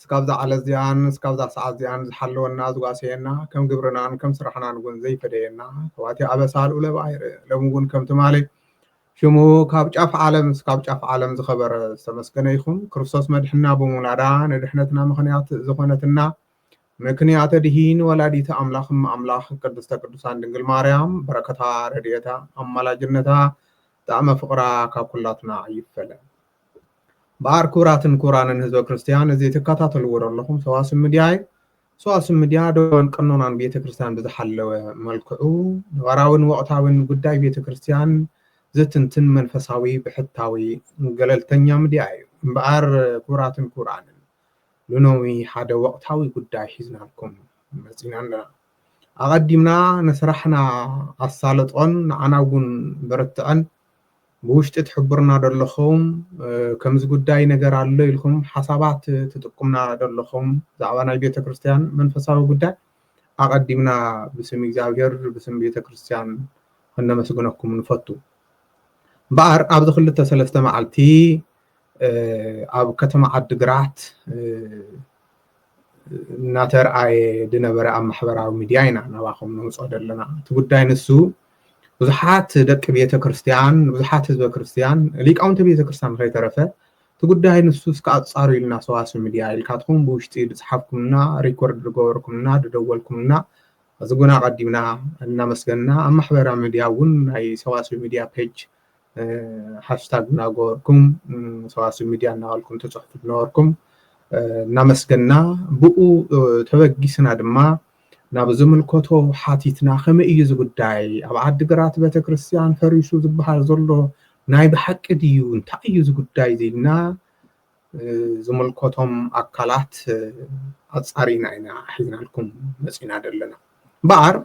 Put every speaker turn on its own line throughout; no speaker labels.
እስካብዛ ዓለት እዚኣን እስካብዛ ሰዓት እዚኣን ዝሓለወና ዝጓሰየና ከም ግብርናን ከም ስራሕናን እውን ዘይፈደየና ካብ'ቲ ኣበሳ ልኡለብ ኣይርእ ሎሚ እውን ከም ትማሊ ሽሙ ካብ ጫፍ ዓለም እስካብ ጫፍ ዓለም ዝኸበረ ዝተመስገነ ይኹን ክርስቶስ መድሕና ብምውላዳ ንድሕነትና ምኽንያት ዝኾነትና ምክንያተ ድሂን ወላዲተ ኣምላኽ እመ ኣምላኽ ቅድስተ ቅዱሳን ድንግል ማርያም በረከታ ረድኤታ ኣማላጅነታ ጣዕመ ፍቕራ ካብ ኩላትና ኣይፈለን። እምበኣር ክቡራትን ክቡራንን ህዝበ ክርስትያን እዚ ትከታተልዎ ዘለኹም ሰዋስብ ምድያ እዩ ሰዋስብ ምድያ ደወን ቀኖናን ቤተ ክርስትያን ብዝሓለወ መልክዑ ነባራዊን ወቕታዊን ጉዳይ ቤተ ክርስትያን ዝትንትን መንፈሳዊ ብሕታዊ ገለልተኛ ምድያ እዩ እምበኣር ክቡራትን ክቡራንን ልኖዊ ሓደ ወቕታዊ ጉዳይ ሒዝናልኩም መፂና ኣለና ኣቐዲምና ንስራሕና ኣሳልጦን ንዓና እውን በርትዐን ብውሽጢ ትሕብሩና ዶ ኣለኹም ከምዚ ጉዳይ ነገር ኣሎ ኢልኩም ሓሳባት ትጥቁምና ዶ ኣለኹም ብዛዕባ ናይ ቤተክርስትያን መንፈሳዊ ጉዳይ ኣቐዲምና ብስም እግዚኣብሔር ብስም ቤተክርስትያን ከነመስግነኩም ንፈቱ እምበኣር ኣብዚ ክልተ ሰለስተ መዓልቲ ኣብ ከተማ ዓዲግራት እናተርኣየ ዝነበረ ኣብ ማሕበራዊ ሚድያ ኢና ናባኹም ነውፅኦ ዘለና እቲ ጉዳይ ንሱ ብዙሓት ደቂ ቤተ ክርስቲያን ብዙሓት ህዝበ ክርስቲያን ሊቃውንቲ ቤተ ክርስቲያን ከይተረፈ እቲ ጉዳይ ንሱ እስከ ኣፃሩ ኢልና ሰዋስው ሚድያ ኢልካትኩም ብውሽጢ ዝፅሓፍኩምና ሪኮርድ ዝገበርኩምና ዝደወልኩምና እዚ ጉና ቀዲምና እናመስገንና ኣብ ማሕበራዊ ሚድያ እውን ናይ ሰዋስው ሚድያ ፔጅ ሃሽታግ እናገበርኩም ሰዋስው ሚድያ እናበልኩም ትፅሕፉ ዝነበርኩም እናመስገንና ብኡ ተበጊስና ድማ ናብ ዝምልከቶ ሓቲትና ከመይ እዩ እዚ ጉዳይ ኣብ ዓዲግራት ቤተክርስትያን ፈሪሱ ዝበሃል ዘሎ ናይ ብሓቂ ድዩ እንታይ እዩ እዚ ጉዳይ እዚ ኢልና ዝምልከቶም ኣካላት ኣፃሪና ኢና ሒዝናልኩም መፂና ዘለና እምበኣር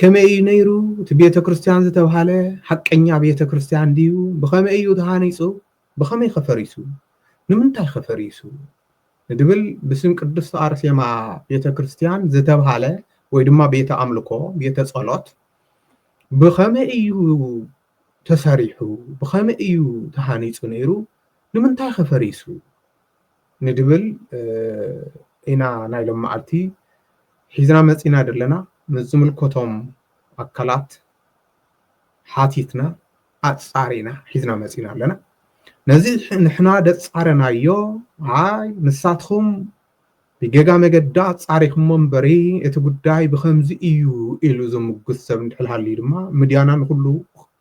ከመይ እዩ ነይሩ እቲ ቤተክርስትያን ዝተብሃለ ሓቀኛ ቤተክርስትያን ድዩ ብኸመይ እዩ ተሃኒፁ ብኸመይ ከፈሪሱ ንምንታይ ከፈሪሱ ንድብል ብስም ቅድስቲ ኣርሴማ ቤተክርስትያን ዝተብሃለ ወይ ድማ ቤተ ኣምልኮ ቤተ ጸሎት ብኸመይ እዩ ተሰሪሑ ብኸመይ እዩ ተሃኒፁ ነይሩ ንምንታይ ከ ፈሪሱ ንድብል ኢና ናይ ሎምዓልቲ ሒዝና መፂና ደለና ምስ ዝምልከቶም ኣካላት ሓቲትና ኣፃሪና ሒዝና መፂና ኣለና ነዚ ንሕና ደፃረናዮ ኣይ ንሳትኹም ብጌጋ መገዲ ኣጻሪኹሞ እምበሪ እቲ ጉዳይ ብኸምዚ ኢዩ ኢሉ ዝምጉት ሰብ እንድሕር ሃልዩ ድማ ምድያና ንኹሉ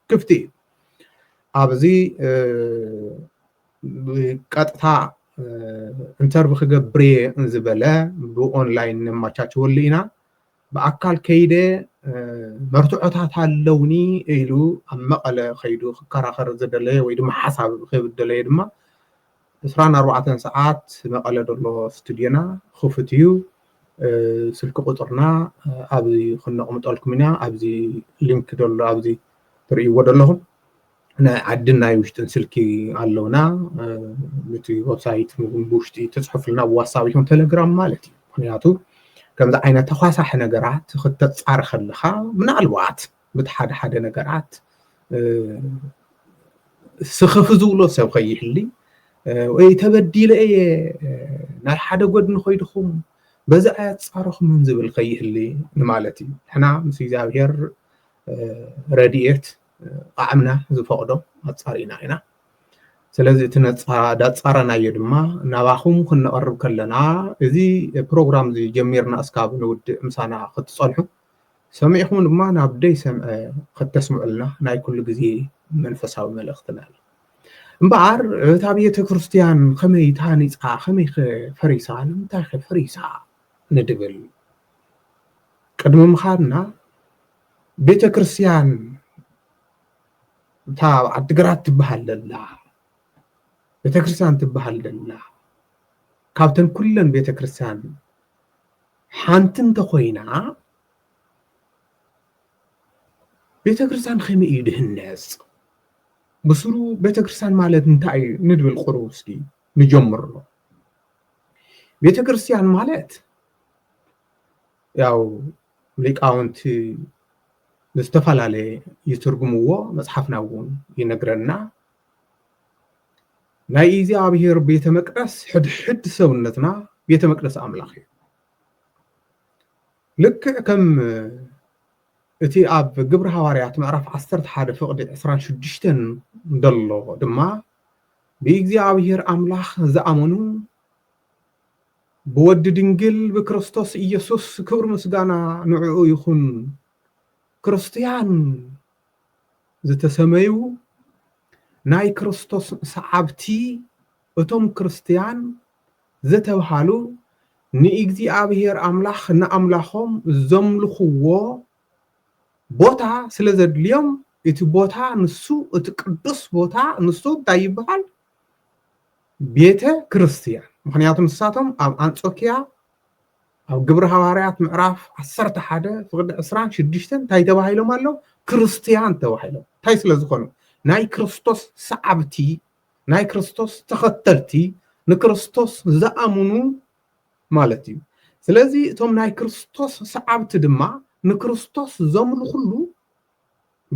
ክፍቲ ኢዩ። ኣብዚ ቀጥታ ኢንተርቪ ክገብር እየ ዝበለ ብኦንላይን ነማቻችወሉ ኢና ብኣካል ከይደ መርትዖታት ኣለውኒ ኢሉ ኣብ መቐለ ከይዱ ክከራኸር ዝደለየ ወይ ድማ ሓሳብ ክህብ ዝደለየ ድማ ዕስራን ኣርባዕተን ሰዓት መቐለ ዘሎ ስቱድዮና ክፉት እዩ። ስልኪ ቁፅርና ኣብዚ ክነቕምጠልኩም ኢና። ኣብዚ ሊንክ ዘሎ ኣብዚ ትርእይዎ ዘለኹም ናይ ዓድን ናይ ውሽጥን ስልኪ ኣለውና ንቲ ወብሳይት ብውሽጢ ተፅሑፍልና ብዋትሳብ ይኹን ቴሌግራም ማለት እዩ ምክንያቱ ከምዚ ዓይነት ተኳሳሒ ነገራት ክተፃሪ ከለካ ምናልባት ብ ሓደ ሓደ ነገራት ስኽፍ ዝብሎ ሰብ ከይህሊ ወይ ተበዲለ እየ ናብ ሓደ ጎድኒ ኮይድኹም በዚ ኣያፃረኹምን ዝብል ከይህሊ ንማለት እዩ ንሕና ምስ እግዚኣብሔር ረድኤት ቃዕምና ዝፈቕዶ ኣፃሪና ኢና ስለዚ እቲ ዳፃረናዮ ድማ ናባኹም ክንቐርብ ከለና እዚ ፕሮግራም እዚ ጀሚርና እስካብ ንውድእ ምሳና ክትፀንሑ ሰሚዕኩም ድማ ናብ ደይሰምዐ ኸተስምዑልና ናይ ኩሉ ግዜ መንፈሳዊ መልእኽትና እዩ። እምበኣር እታ ቤተ ክርስቲያን ከመይ ተሃኒጻ ከመይከ ፈሪሳ ንምንታይከ ፈሪሳ ንድብል ቅድሚ ምኻድና ቤተ ክርስቲያን እታ ኣብ ዓዲግራት ትበሃል ዘላ ቤተክርስትያን ትበሃል ዘላ ካብተን ኩለን ቤተክርስትያን ሓንቲ እንተኾይና ቤተክርስትያን ከመይ እዩ ድህነፅ? ብስሩ ቤተክርስትያን ማለት እንታይ እዩ ንድብል ቁሩብ እስኪ ንጀምሮ። ቤተክርስትያን ማለት ያው ሊቃውንቲ ዝተፈላለየ ይትርጉምዎ መፅሓፍና እውን ይነግረና። ናይ እግዚኣብሔር ቤተ መቅደስ ሕድሕድ ሰውነትና ቤተ መቅደስ ኣምላኽ እዩ። ልክዕ ከም እቲ ኣብ ግብሪ ሃዋርያት ምዕራፍ ዓሰርተ ሓደ ፍቕዲ ዕስራን ሽዱሽተን ደሎ ድማ ብእግዚኣብሔር ኣምላኽ ዝኣመኑ ብወዲ ድንግል ብክርስቶስ ኢየሱስ ክብሪ ምስጋና ንዕኡ ይኹን ክርስትያን ዝተሰመዩ ናይ ክርስቶስ ሰዓብቲ እቶም ክርስትያን ዘተብሃሉ ንእግዚኣብሔር ኣምላኽ ንኣምላኾም ዘምልኽዎ ቦታ ስለ ዘድልዮም እቲ ቦታ ንሱ እቲ ቅዱስ ቦታ ንሱ እንታይ ይበሃል ቤተ ክርስትያን ምክንያቱ ንሳቶም ኣብ ኣንጾኪያ ኣብ ግብሪ ሃዋርያት ምዕራፍ ዓሰርተ ሓደ ፍቕዲ ዕስራን ሽዱሽተን እንታይ ተባሂሎም ኣለዉ ክርስትያን ተባሂሎም እንታይ ስለ ዝኾኑ ናይ ክርስቶስ ሰዓብቲ ናይ ክርስቶስ ተኸተልቲ ንክርስቶስ ዝኣምኑ ማለት እዩ ስለዚ እቶም ናይ ክርስቶስ ሰዓብቲ ድማ ንክርስቶስ ዘምልኹሉ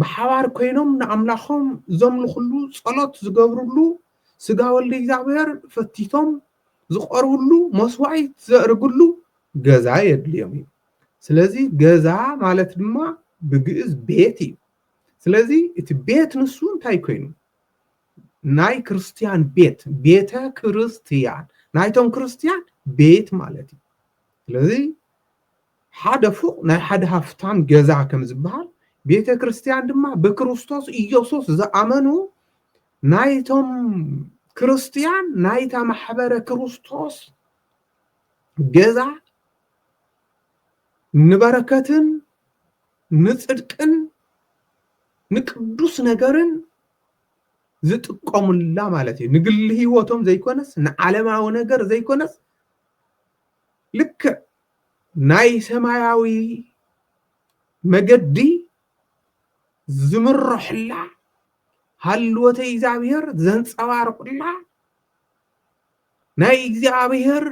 ብሓባር ኮይኖም ንኣምላኾም ዘምልኹሉ ጸሎት ዝገብርሉ ስጋ ወልድ እግዚኣብሔር ፈቲቶም ዝቐርብሉ መስዋኢት ዘእርግሉ ገዛ የድልዮም እዩ ስለዚ ገዛ ማለት ድማ ብግእዝ ቤት እዩ ስለዚ እቲ ቤት ንሱ እንታይ ኮይኑ ናይ ክርስትያን ቤት ቤተ ክርስትያን ናይቶም ክርስትያን ቤት ማለት እዩ ስለዚ ሓደ ፎቅ ናይ ሓደ ሃፍታም ገዛ ከም ዝበሃል ቤተ ክርስትያን ድማ ብክርስቶስ ኢየሱስ ዝኣመኑ ናይቶም ክርስትያን ናይታ ማሕበረ ክርስቶስ ገዛ ንበረከትን ንፅድቅን ንቅዱስ ነገርን ዝጥቀሙላ ማለት እዩ ንግሊ ህይወቶም ዘይኮነስ ንዓለማዊ ነገር ዘይኮነስ ልክዕ ናይ ሰማያዊ መገዲ ዝምረሕላ ሃልወተ እግዚኣብሔር ዘንጸባርቑላ ናይ እግዚኣብሔር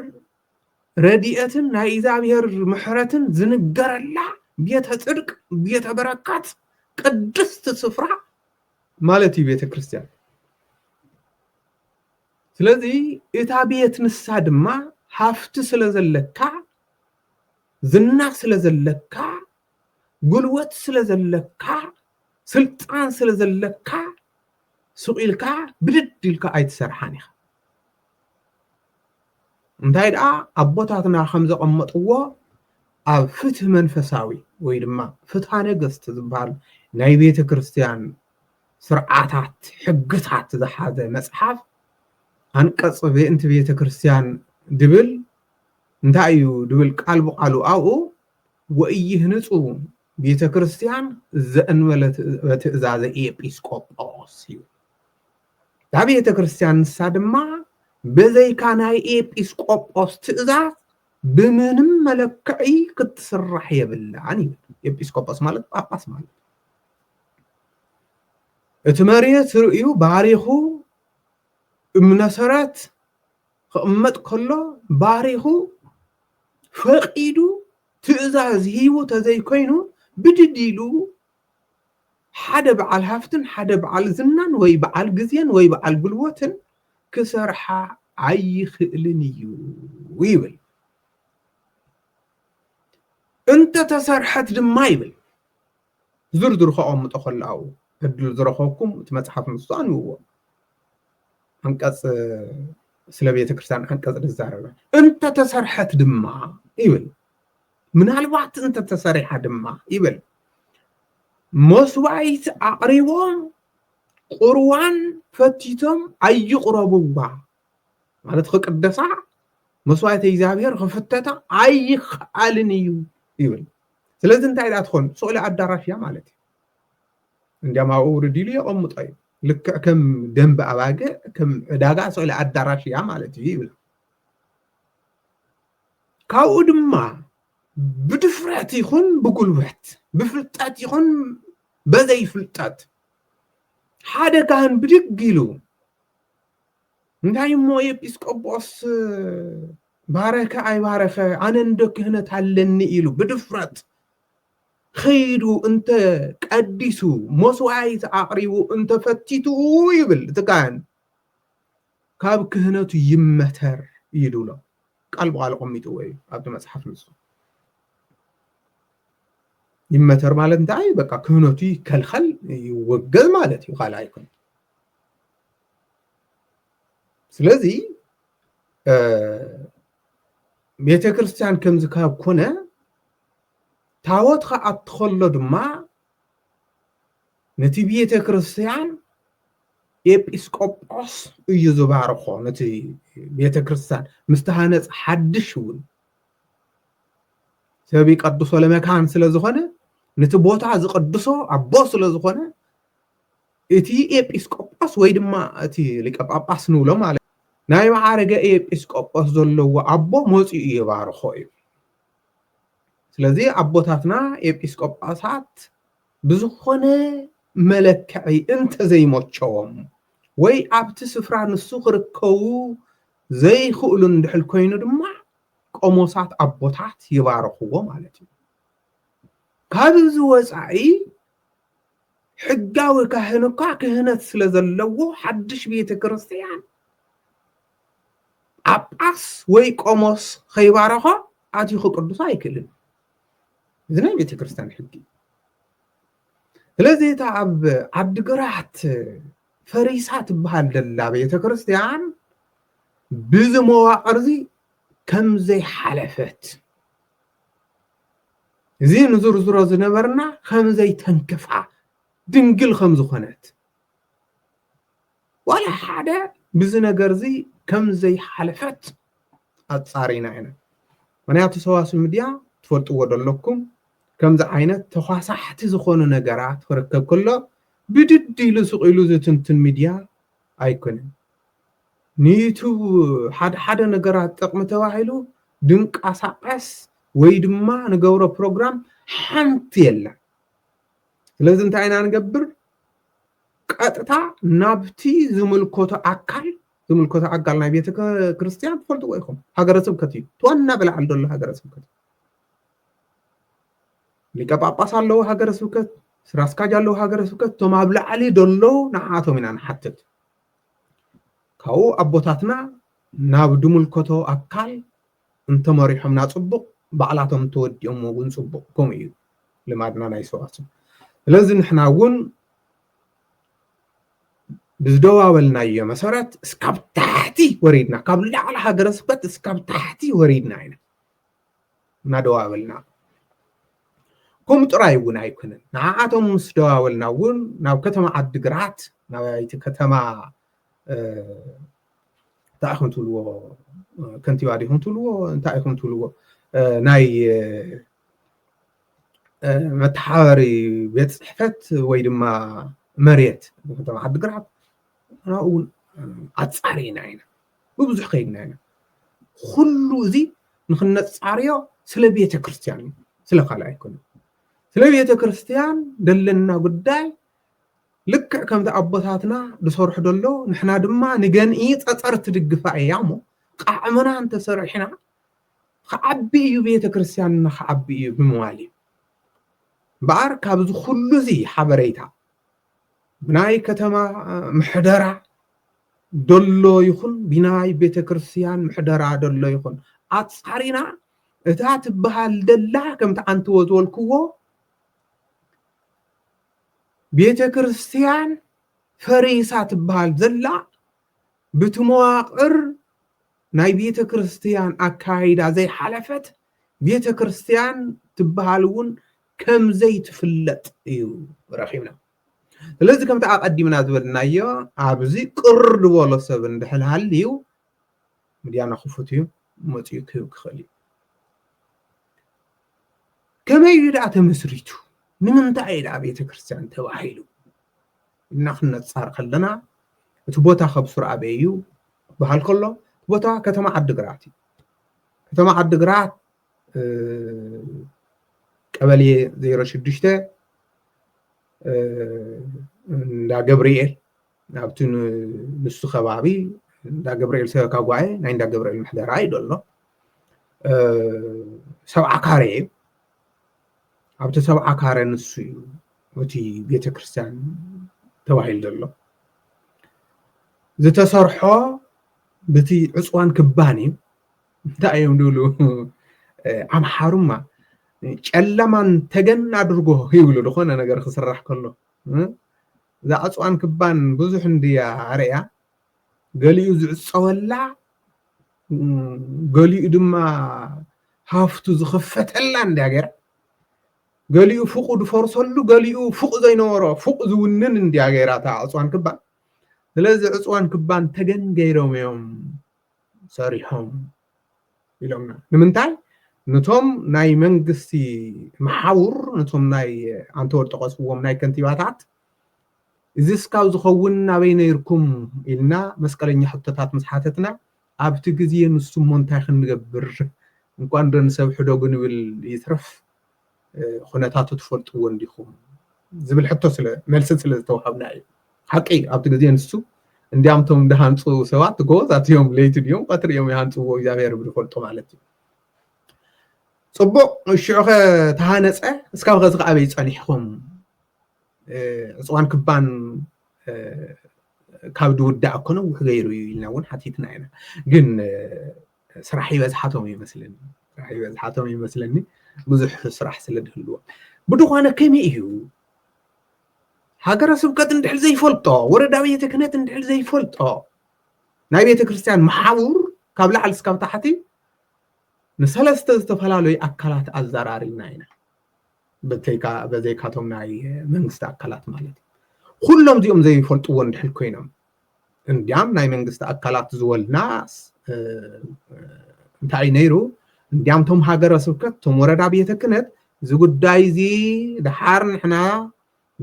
ረድኤትን ናይ እግዚኣብሔር ምሕረትን ዝንገረላ ቤተ ጽድቅ ቤተ በረከት ቅድስት ስፍራ ማለት እዩ ቤተ ክርስቲያን ስለዚ እታ ቤት ንሳ ድማ ሃፍቲ ስለ ዘለካ ዝና ስለ ዘለካ ጉልበት ስለ ዘለካ ስልጣን ስለ ዘለካ ሱቕ ኢልካ ብድድ ኢልካ ኣይትሰርሓን ኢኻ እንታይ ደኣ ኣቦታትና ከም ዘቐመጥዎ ኣብ ፍትህ መንፈሳዊ ወይ ድማ ፍትሃ ነገስት ዝበሃል ናይ ቤተ ክርስቲያን ስርዓታት ሕግታት ዝሓዘ መፅሓፍ ኣንቀፅ ቤንቲ ቤተ ክርስቲያን ድብል እንታይ እዩ ድብል ቃል ብቃሉ ኣብኡ ወኢይህንጹ ቤተ ክርስቲያን ዘእንበለ ትእዛዘ ኤጲስ ቆጶስ እዩ። እታ ቤተ ክርስቲያን ንሳ ድማ በዘይካ ናይ ኤጲስ ቆጶስ ትእዛዝ ብምንም መለክዒ ክትስራሕ የብላን ይብል። ኤጲስ ቆጶስ ማለት ጳጳስ ማለት እቲ መሬት ርእዩ ባሪኹ እምነሰረት ክቕመጥ ከሎ ባሪኹ ፈቂዱ ትእዛዝ ሂቡ ተዘይኮይኑ ብድድ ኢሉ ሓደ በዓል ሃፍትን ሓደ በዓል ዝናን ወይ በዓል ግዜን ወይ በዓል ጉልቦትን ክሰርሓ ኣይኽእልን እዩ ይብል። እንተተሰርሐት ድማ ይብል ብዝርዝሩ ከቐምጦ ከሎ ኣብኡ ዕድል ዝረኸብኩም እቲ መጽሓፍ ንሱ ኣንብብዎ። ዓንቀጽ ስለ ቤተ ክርስቲያን ዓንቀጽ ዝዛረበ እንተተሰርሐት ድማ ይብል ምናልባት እንተተሰሪሓ ድማ ይብል መስዋይት ኣቕሪቦም ቁርዋን ፈቲቶም ኣይቕረብዋ ማለት ክቅደሳ መስዋዕተ እግዚኣብሔር ክፍተታ ኣይክኣልን እዩ ይብል ስለዚ እንታይ ደኣ ትኾን ስእሊ ኣዳራሽ እያ ማለት እዩ። እንዲያም ኣብኡ ውርድ ኢሉ የቐምጦ እዩ። ልክዕ ከም ደንቢ ኣባግዕ ከም ዕዳጋ ስእሊ ኣዳራሽ እያ ማለት እዩ ይብላ። ካብኡ ድማ ብድፍረት ይኹን ብጉልበት ብፍልጠት ይኹን በዘይ ፍልጠት ሓደ ካህን ብድግ ኢሉ እንታይ እሞ ኤጲስቆጶስ ባረከ ኣይባረከ ኣነ እንዶ ክህነት ኣለኒ ኢሉ ብድፍረት ኸይዱ እንተ ቀዲሱ መስዋኢት ኣቕሪቡ እንተ ፈቲቱ ይብል እቲ ካህን ካብ ክህነቱ ይመተር እዩ ድብሎ ቃል ብቃል ቆሚጥዎ እዩ ኣብቲ መፅሓፍ ንሱ ይመተር ማለት እንታይ በቃ ክህነቱ ይከልኸል ይወገዝ ማለት እዩ ካልኣ ይኮን ስለዚ ቤተ ክርስቲያን ከምዚ ካብ ኮነ ታወት ከዓ እትኸሎ ድማ ነቲ ቤተ ክርስቲያን ኤጲስቆጶስ እዩ ዝባርኾ ነቲ ቤተ ክርስቲያን ምስ ተሃነፅ ሓድሽ እውን ሰብ ይቀድሶ ለመካን ስለ ዝኾነ ነቲ ቦታ ዝቀድሶ ኣቦ ስለ ዝኾነ እቲ ኤጲስቆጶስ ወይ ድማ እቲ ሊቀ ጳጳስ ንብሎ ማለት ናይ መዓርገ ኤጲስቆጶስ ዘለዎ ኣቦ መጺኡ ይባርኾ እዩ። ስለዚ ኣቦታትና ኤጲስቆጶሳት ብዝኾነ መለክዒ እንተዘይመቸዎም ወይ ኣብቲ ስፍራ ንሱ ክርከቡ ዘይክእሉ እንድሕል ኮይኑ ድማ ቆሞሳት ኣቦታት ይባርኽዎ ማለት እዩ። ካብዚ ወጻኢ ሕጋዊ ካህን እኳ ክህነት ስለ ዘለዎ ሓድሽ ቤተ ክርስትያን ጳጳስ ወይ ቆሞስ ከይባረኾ ኣትዩ ክቅድሶ ኣይክእልን እዚ ናይ ቤተ ክርስትያን ሕጊ ስለዚ እታ ኣብ ዓዲግራት ፈሪሳ ትበሃል ዘላ ቤተ ክርስትያን ብዚ መዋቅር እዚ ከምዘይሓለፈት እዚ ንዝርዝሮ ዝነበርና ከም ዘይተንክፋ ድንግል ከም ዝኾነት ዋላ ሓደ ብዚ ነገር እዚ ከም ዘይሓለፈት ኣጻሪና ኢና ምክንያቱ ሰዋስው ሚድያ ትፈልጥዎ ዶ ኣለኩም ከምዚ ዓይነት ተኳሳሕቲ ዝኾኑ ነገራት ክርከብ ከሎ ብድድ ኢሉ ስቅ ኢሉ ዝትንትን ሚድያ ኣይኮነን። ንዩቱብ ሓደ ሓደ ነገራት ጥቕሚ ተባሂሉ ድንቃሳቐስ ወይ ድማ ንገብሮ ፕሮግራም ሓንቲ የለን። ስለዚ እንታይ ኢና ንገብር ቀጥታ ናብቲ ዝምልከቶ ኣካል ዝምልከቶ ኣካል ናይ ቤተ ክርስቲያን ትፈልጥዎ ኢኹም ሃገረ ስብከት እዩ ትዋና ብላዕሊ ዘሎ ሃገረ ስብከት ሊቀ ጳጳስ ኣለዎ ሃገረ ስብከት ስራ ኣስካጅ ኣለዎ ሃገረ ስብከት እቶም ኣብ ላዕሊ ደለዉ ንዓቶም ኢና ንሓትት ካብኡ ኣቦታትና ናብ ድምልከቶ ኣካል እንተመሪሖምና ጽቡቅ ባዕላቶም ተወዲኦሞ እውን ጽቡቅ ከምኡ እዩ ልማድና ናይ ሰዋስው ስለዚ ንሕና እውን ብዝደዋበልናዮ መሰረት እስካብ ታሕቲ ወሪድና ካብ ላዕሊ ሃገረ ስብከት እስካብ ታሕቲ ወሪድና ኢና እናደዋበልና ከምኡ ጥራይ እውን ኣይኮነን ንዓኣቶም ምስ ደዋበልና እውን ናብ ከተማ ዓዲግራት ናብይቲ ከተማ እንታይ ኢኹም ትብልዎ ከንቲባ ዲኹም ትብልዎ እንታይ ኢኹም ትብልዎ ናይ መተሓባበሪ ቤት ፅሕፈት ወይ ድማ መሬት ከተማ ዓዲግራት ናብኡ እውን ኣፃሪና ኢና ብብዙሕ ከይድና ኢና ኩሉ እዚ ንክነፃርዮ ስለ ቤተ ክርስትያን እዩ ስለ ካልእ ኣይኮነ ስለ ቤተ ክርስትያን ዘለና ጉዳይ ልክዕ ከምቲ ኣቦታትና ዝሰርሑ ደሎ ንሕና ድማ ንገንኢ ፀፀር ትድግፋ እያ እሞ ቃዕምና እንተሰሪሕና ክዓቢ እዩ ቤተ ክርስትያንና ክዓቢ እዩ ብምባል እዩ እምበኣር ካብዚ ኩሉ እዚ ሓበሬታ ናይ ከተማ ምሕደራ ደሎ ይኹን ቢናይ ቤተ ክርስቲያን ምሕደራ ደሎ ይኹን ኣጻሪና እታ ትበሃል ደላ ከምቲ ኣንትዎ ዝበልክዎ ቤተ ክርስቲያን ፈሪሳ ትበሃል ዘላ ብቲ መዋቕር ናይ ቤተ ክርስቲያን ኣካይዳ ዘይሓለፈት ቤተ ክርስቲያን ትበሃል እውን ከም ዘይትፍለጥ እዩ ረኺብና ስለዚ ከምቲ ኣቐዲምና ዝበልናዮ ኣብዚ ቅር ዝበሎ ሰብ እንድሕር ሃልዩ ምድያና ክፉት እዩ መፅኡ ክህብ ክኽእል እዩ ከመይ እዩ ደኣ ተመስሪቱ ንምንታይ እዩ ደኣ ቤተ ክርስቲያን ተባሂሉ እና ክነፃር ከለና እቲ ቦታ ከብ ሱር ኣበይ እዩ በሃል ከሎ ቦታ ከተማ ዓዲግራት እዩ ከተማ ዓዲግራት ቀበሌ ዜሮ ሽዱሽተ እንዳ ገብርኤል ናብቲ ንሱ ከባቢ እንዳ ገብርኤል ሰበካ ጓኤ ናይ እንዳ ገብርኤል ምሕደራ እዩ ዘሎ ሰብዓ ካሬ እዩ ኣብቲ ሰብዓ ካረ ንሱ እዩ እቲ ቤተ ክርስቲያን ተባሂሉ ዘሎ ዝተሰርሖ በቲ ዕፅዋን ክባን እዩ እንታይ እዮም ድብሉ ኣምሓሩማ ጨለማን ተገን ኣድርጎ ይብሉ ዝኾነ ነገር ክስራሕ ከሎ እዛ ዕፅዋን ክባን ብዙሕ እንድያ ኣርእያ ገሊኡ ዝዕፀወላ ገሊኡ ድማ ሃፍቱ ዝኽፈተላ እንድያ ገይራ ገሊኡ ፉቑ ዝፈርሰሉ ገሊኡ ፉቕ ዘይነበሮ ፉቕ ዝውንን እንድያ ገይራ እታ ዕፅዋን ክባን ስለዚ ዕፅዋን ክባን ተገን ገይሮም እዮም ሰሪሖም ኢሎምና ንምንታይ ነቶም ናይ መንግስቲ መሓውር ነቶም ናይ ኣንተወር ጠቐስዎም ናይ ከንቲባታት እዚ ስካብ ዝኸውን ናበይ ነይርኩም ኢልና መስቀለኛ ሕቶታት ምስ ሓተትና ኣብቲ ግዜ ንሱሞ እንታይ ክንገብር እንኳን ዶ ንሰብ ሕደጉ ንብል ይትረፍ ኩነታቱ ትፈልጥዎ እንዲኹም ዝብል ሕቶ ስለ መልስን ስለ ዝተዋሃብና እዩ ሓቂ ኣብቲ ግዜ ንሱ እንዲያም እቶም ዝሃንፁ ሰባት ጎበዛት እዮም ለይቲ ድዮም ቀትሪ እዮም ይሃንፅዎ እግዚኣብሔር ብዝፈልጦ ማለት እዩ ፅቡቅ ሽዑ ከ ተሃነፀ እስካብ ከዚ ከዓ ኣበይ ፀኒሕኹም ዕፅዋን ክባን ካብ ድውዳእ እኮ ነዊሕ ገይሩ እዩ ኢልና እውን ሓቲትና ኢና ግን ስራሕ ይበዝሓቶም ይመስለኒ ስራሕ ይበዝሓቶም ይመስለኒ ብዙሕ ስራሕ ስለ ዝህልዎ ብድኾነ ከመይ እዩ ሃገረ ስብከት እንድሕር ዘይፈልጦ ወረዳ ቤተ ክህነት እንድሕር ዘይፈልጦ ናይ ቤተ ክርስቲያን መሓውር ካብ ላዕሊ እስካብ ታሕቲ ንሰለስተ ዝተፈላለዩ ኣካላት ኣዘራሪብና ኢና በዘይካቶም ናይ መንግስቲ ኣካላት ማለት እዩ ኩሎም እዚኦም ዘይፈልጥዎ እንድሕር ኮይኖም እንድያም ናይ መንግስቲ ኣካላት ዝወልናስ እንታይ እዩ ነይሩ እንድያም ቶም ሃገረ ስብከት ቶም ወረዳ ቤተ ክነት እዚ ጉዳይ እዚ ድሓር ንሕና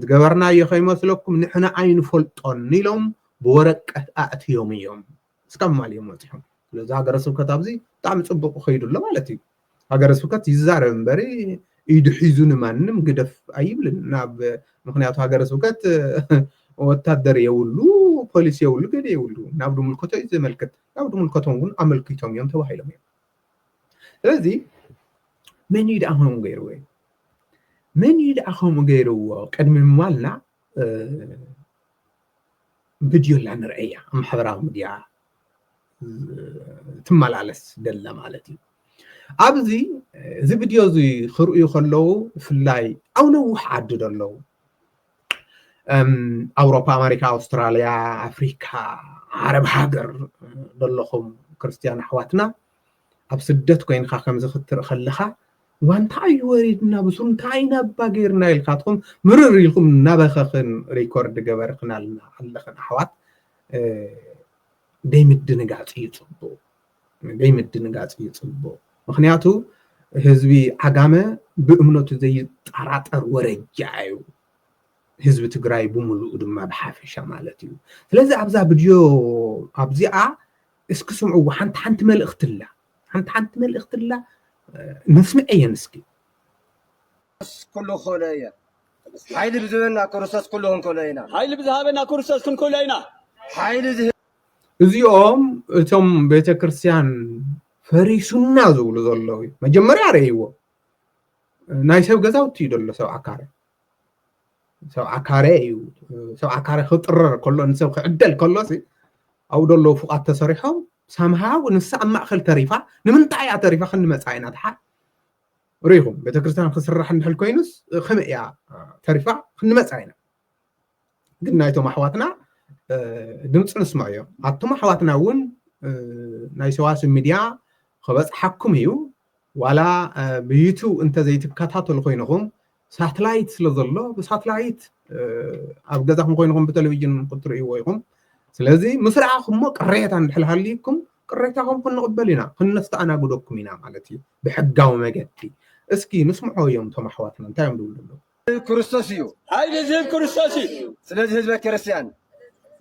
ዝገበርናዮ ከይመስለኩም ንሕና ኣይንፈልጦን ኢሎም ብወረቀት ኣእትዮም እዮም እስካብ ማል እዮም ወፂሖም ስለዚ ሃገረ ስብከት ኣብዚ ብጣዕሚ ፅቡቅ ከይዱ ኣሎ ማለት እዩ ሃገረ ስብከት ይዛረብ እምበሪ ኢዱ ሒዙ ንማንም ግደፍ ኣይብልን ናብ ምክንያቱ ሃገረ ስብከት ወታደር የብሉ ፖሊስ የብሉ ገደ የብሉ ናብ ድምልከቶ እዩ ዘመልክት ናብ ድምልከቶም እውን ኣመልኪቶም እዮም ተባሂሎም እዮም ስለዚ መን እዩ ደኣ ከምኡ ገይርዎ እዩ መን እዩ ደኣ ከምኡ ገይርዎ ቅድሚ ምባልና ቪድዮ ኣላ ንርአያ ኣብ ማሕበራዊ ሚድያ ትመላለስ ደላ ማለት እዩ ኣብዚ እዚ ቪድዮ እዚ ክርእዩ ከለዉ ብፍላይ ኣብ ነዊሕ ዓዲ ዘለዉ ኣውሮፓ ኣሜሪካ ኣውስትራልያ ኣፍሪካ ዓረብ ሃገር ዘለኹም ክርስትያን ኣሕዋትና ኣብ ስደት ኮይንካ ከምዚ ክትርኢ ከለካ እዋ እንታይ እዩ ወሪድና ብሱሩ እንታይ ኢና እባ ገይርና ኢልካትኩም ምርር ኢልኩም እናበኸኽን ሪኮርድ ገበርክናልና ኣለኽን ኣሕዋት ዘይምድንጋፅ እዩ ፅቡቅ ዘይምድንጋፅ እዩ ፅቡቅ ምክንያቱ ህዝቢ ዓጋመ ብእምነቱ ዘይጠራጠር ወረጃ እዩ ህዝቢ ትግራይ ብምሉኡ ድማ ብሓፈሻ ማለት እዩ ስለዚ ኣብዛ ቪድዮ ኣብዚኣ እስኪ ስምዕዎ ሓንቲ ሓንቲ መልእኽቲ ኣላ ሓንቲ ሓንቲ መልእኽቲ ኣላ ነስምዐየን እስኪ ኩሉ ክእሎ
እየ ሓይሊ ብዝበና ክርስቶስ ኩሉ ክንክእሎ ኢና ሓይሊ ብዝሃበና ክርስቶስ
ክንክእሎ ኢና ሓይሊ
እዚኦም እቶም ቤተ ክርስቲያን ፈሪሱና ዝብሉ ዘለዉ እዩ መጀመርያ ረእይዎ ናይ ሰብ ገዛውቲ እዩ ዘሎ ሰብ ኣካረ ሰብዓ ካሬ እዩ ሰብዓ ካሬ ክጥረር ከሎ ንሰብ ክዕደል ከሎ ኣብኡ ደለዉ ፉቓት ተሰሪሖም ሰምሃው ንሳ ኣብ ማእኸል ተሪፋ ንምንታይ እያ ተሪፋ ክንዲ መፃኢ ኢና ተሓ ርኢኹም ቤተክርስትያን ክስራሕ እንድሕል ኮይኑስ ከመይ እያ ተሪፋ ክንዲ መፃኢ ኢና ግን ናይቶም ኣሕዋትና ድምፂ ንስምዖ እዮ ኣቶም ኣሕዋትና እውን ናይ ሰዋስብ ሚድያ ክበፅሓኩም እዩ ዋላ ብዩቱብ እንተዘይትከታተሉ ኮይንኹም ሳትላይት ስለ ዘሎ ብሳትላይት ኣብ ገዛኹም ኮይንኹም ብተለቪጅን ክትርእይዎ ኢኹም ስለዚ ምስ ረኣኹሞ ቅሬታ እንድሕር ሃልዩኩም ቅሬታኹም ክንቕበል ኢና ክነስተኣናግደኩም ኢና ማለት እዩ ብሕጋዊ መገዲ እስኪ ንስምዖ እዮም እቶም ኣሕዋትና እንታይ እዮም ዝብሉ ኣለዉ ክርስቶስ እዩ
ሓይሊ ዝህብ ክርስቶስ
እዩ ስለዚ ህዝበ ክርስትያን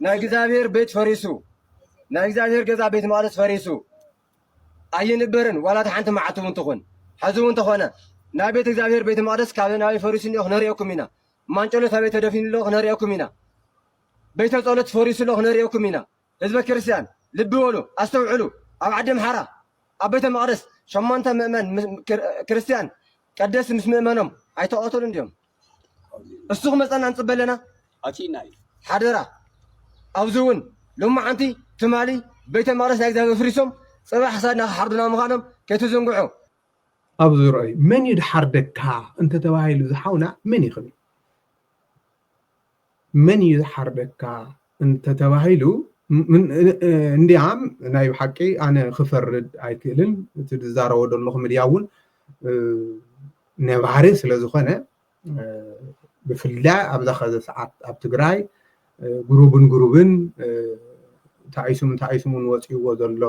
ናይ እግዚኣብሔር ቤት ፈሪሱ ናይ እግዚኣብሔር ገዛ ቤት መቅደስ ፈሪሱ ኣይንበርን ዋላ እታ ሓንቲ መዓልቲ እውን ትኹን። ሕዚ እውን ተኾነ ናይ ቤት እግዚኣብሔር ቤተ መቅደስ ካበይ ናበይ ፈሪሱ እኒኦ ክነርእየኩም ኢና። ማንጨሎት ኣበይ ተደፊኑ ኣሎ ክነርእየኩም ኢና። ቤተ ጸሎት ፈሪሱ ኣሎ ክነርእየኩም ኢና። ህዝበ ክርስቲያን ልቢ በሉ፣ ኣስተውዕሉ። ኣብ ዓዲ ምሓራ ኣብ ቤተ መቅደስ ሸሞንተ ምእመን ምስ- ክር- ክርስቲያን ቀደስ ምስ ምእመኖም ኣይተቐተሉን ድዮም? እሱ ክመፀና ንፅበ ኣለና ኣቲና እዩ
ሓደራ
ኣብዚ እውን ሎማዓንቲ ትማሊ ቤተ መቅደስ ናይ እግዚኣብሔር ፍሪሶም ፅባሕ ክሳድና ክሓርዱና ምዃኖም ከይትዝንግዑ ኣብ
ዙርኦይ መን እዩ ድሓርደካ እንተተባሂሉ ዝሓውና መን ይኽብል መን እዩ ዝሓርደካ እንተተባሂሉ እንድያም ናይ ብሓቂ ኣነ ክፈርድ ኣይክእልን እቲ ዝዛረቦ ዘለኹ ምድያ እውን ነባሪ ስለዝኾነ ብፍላይ ኣብዛ ከዘ ሰዓት ኣብ ትግራይ ጉሩብን ጉሩብን ታይሱምን ታይሱምን ወፅይዎ ዘሎ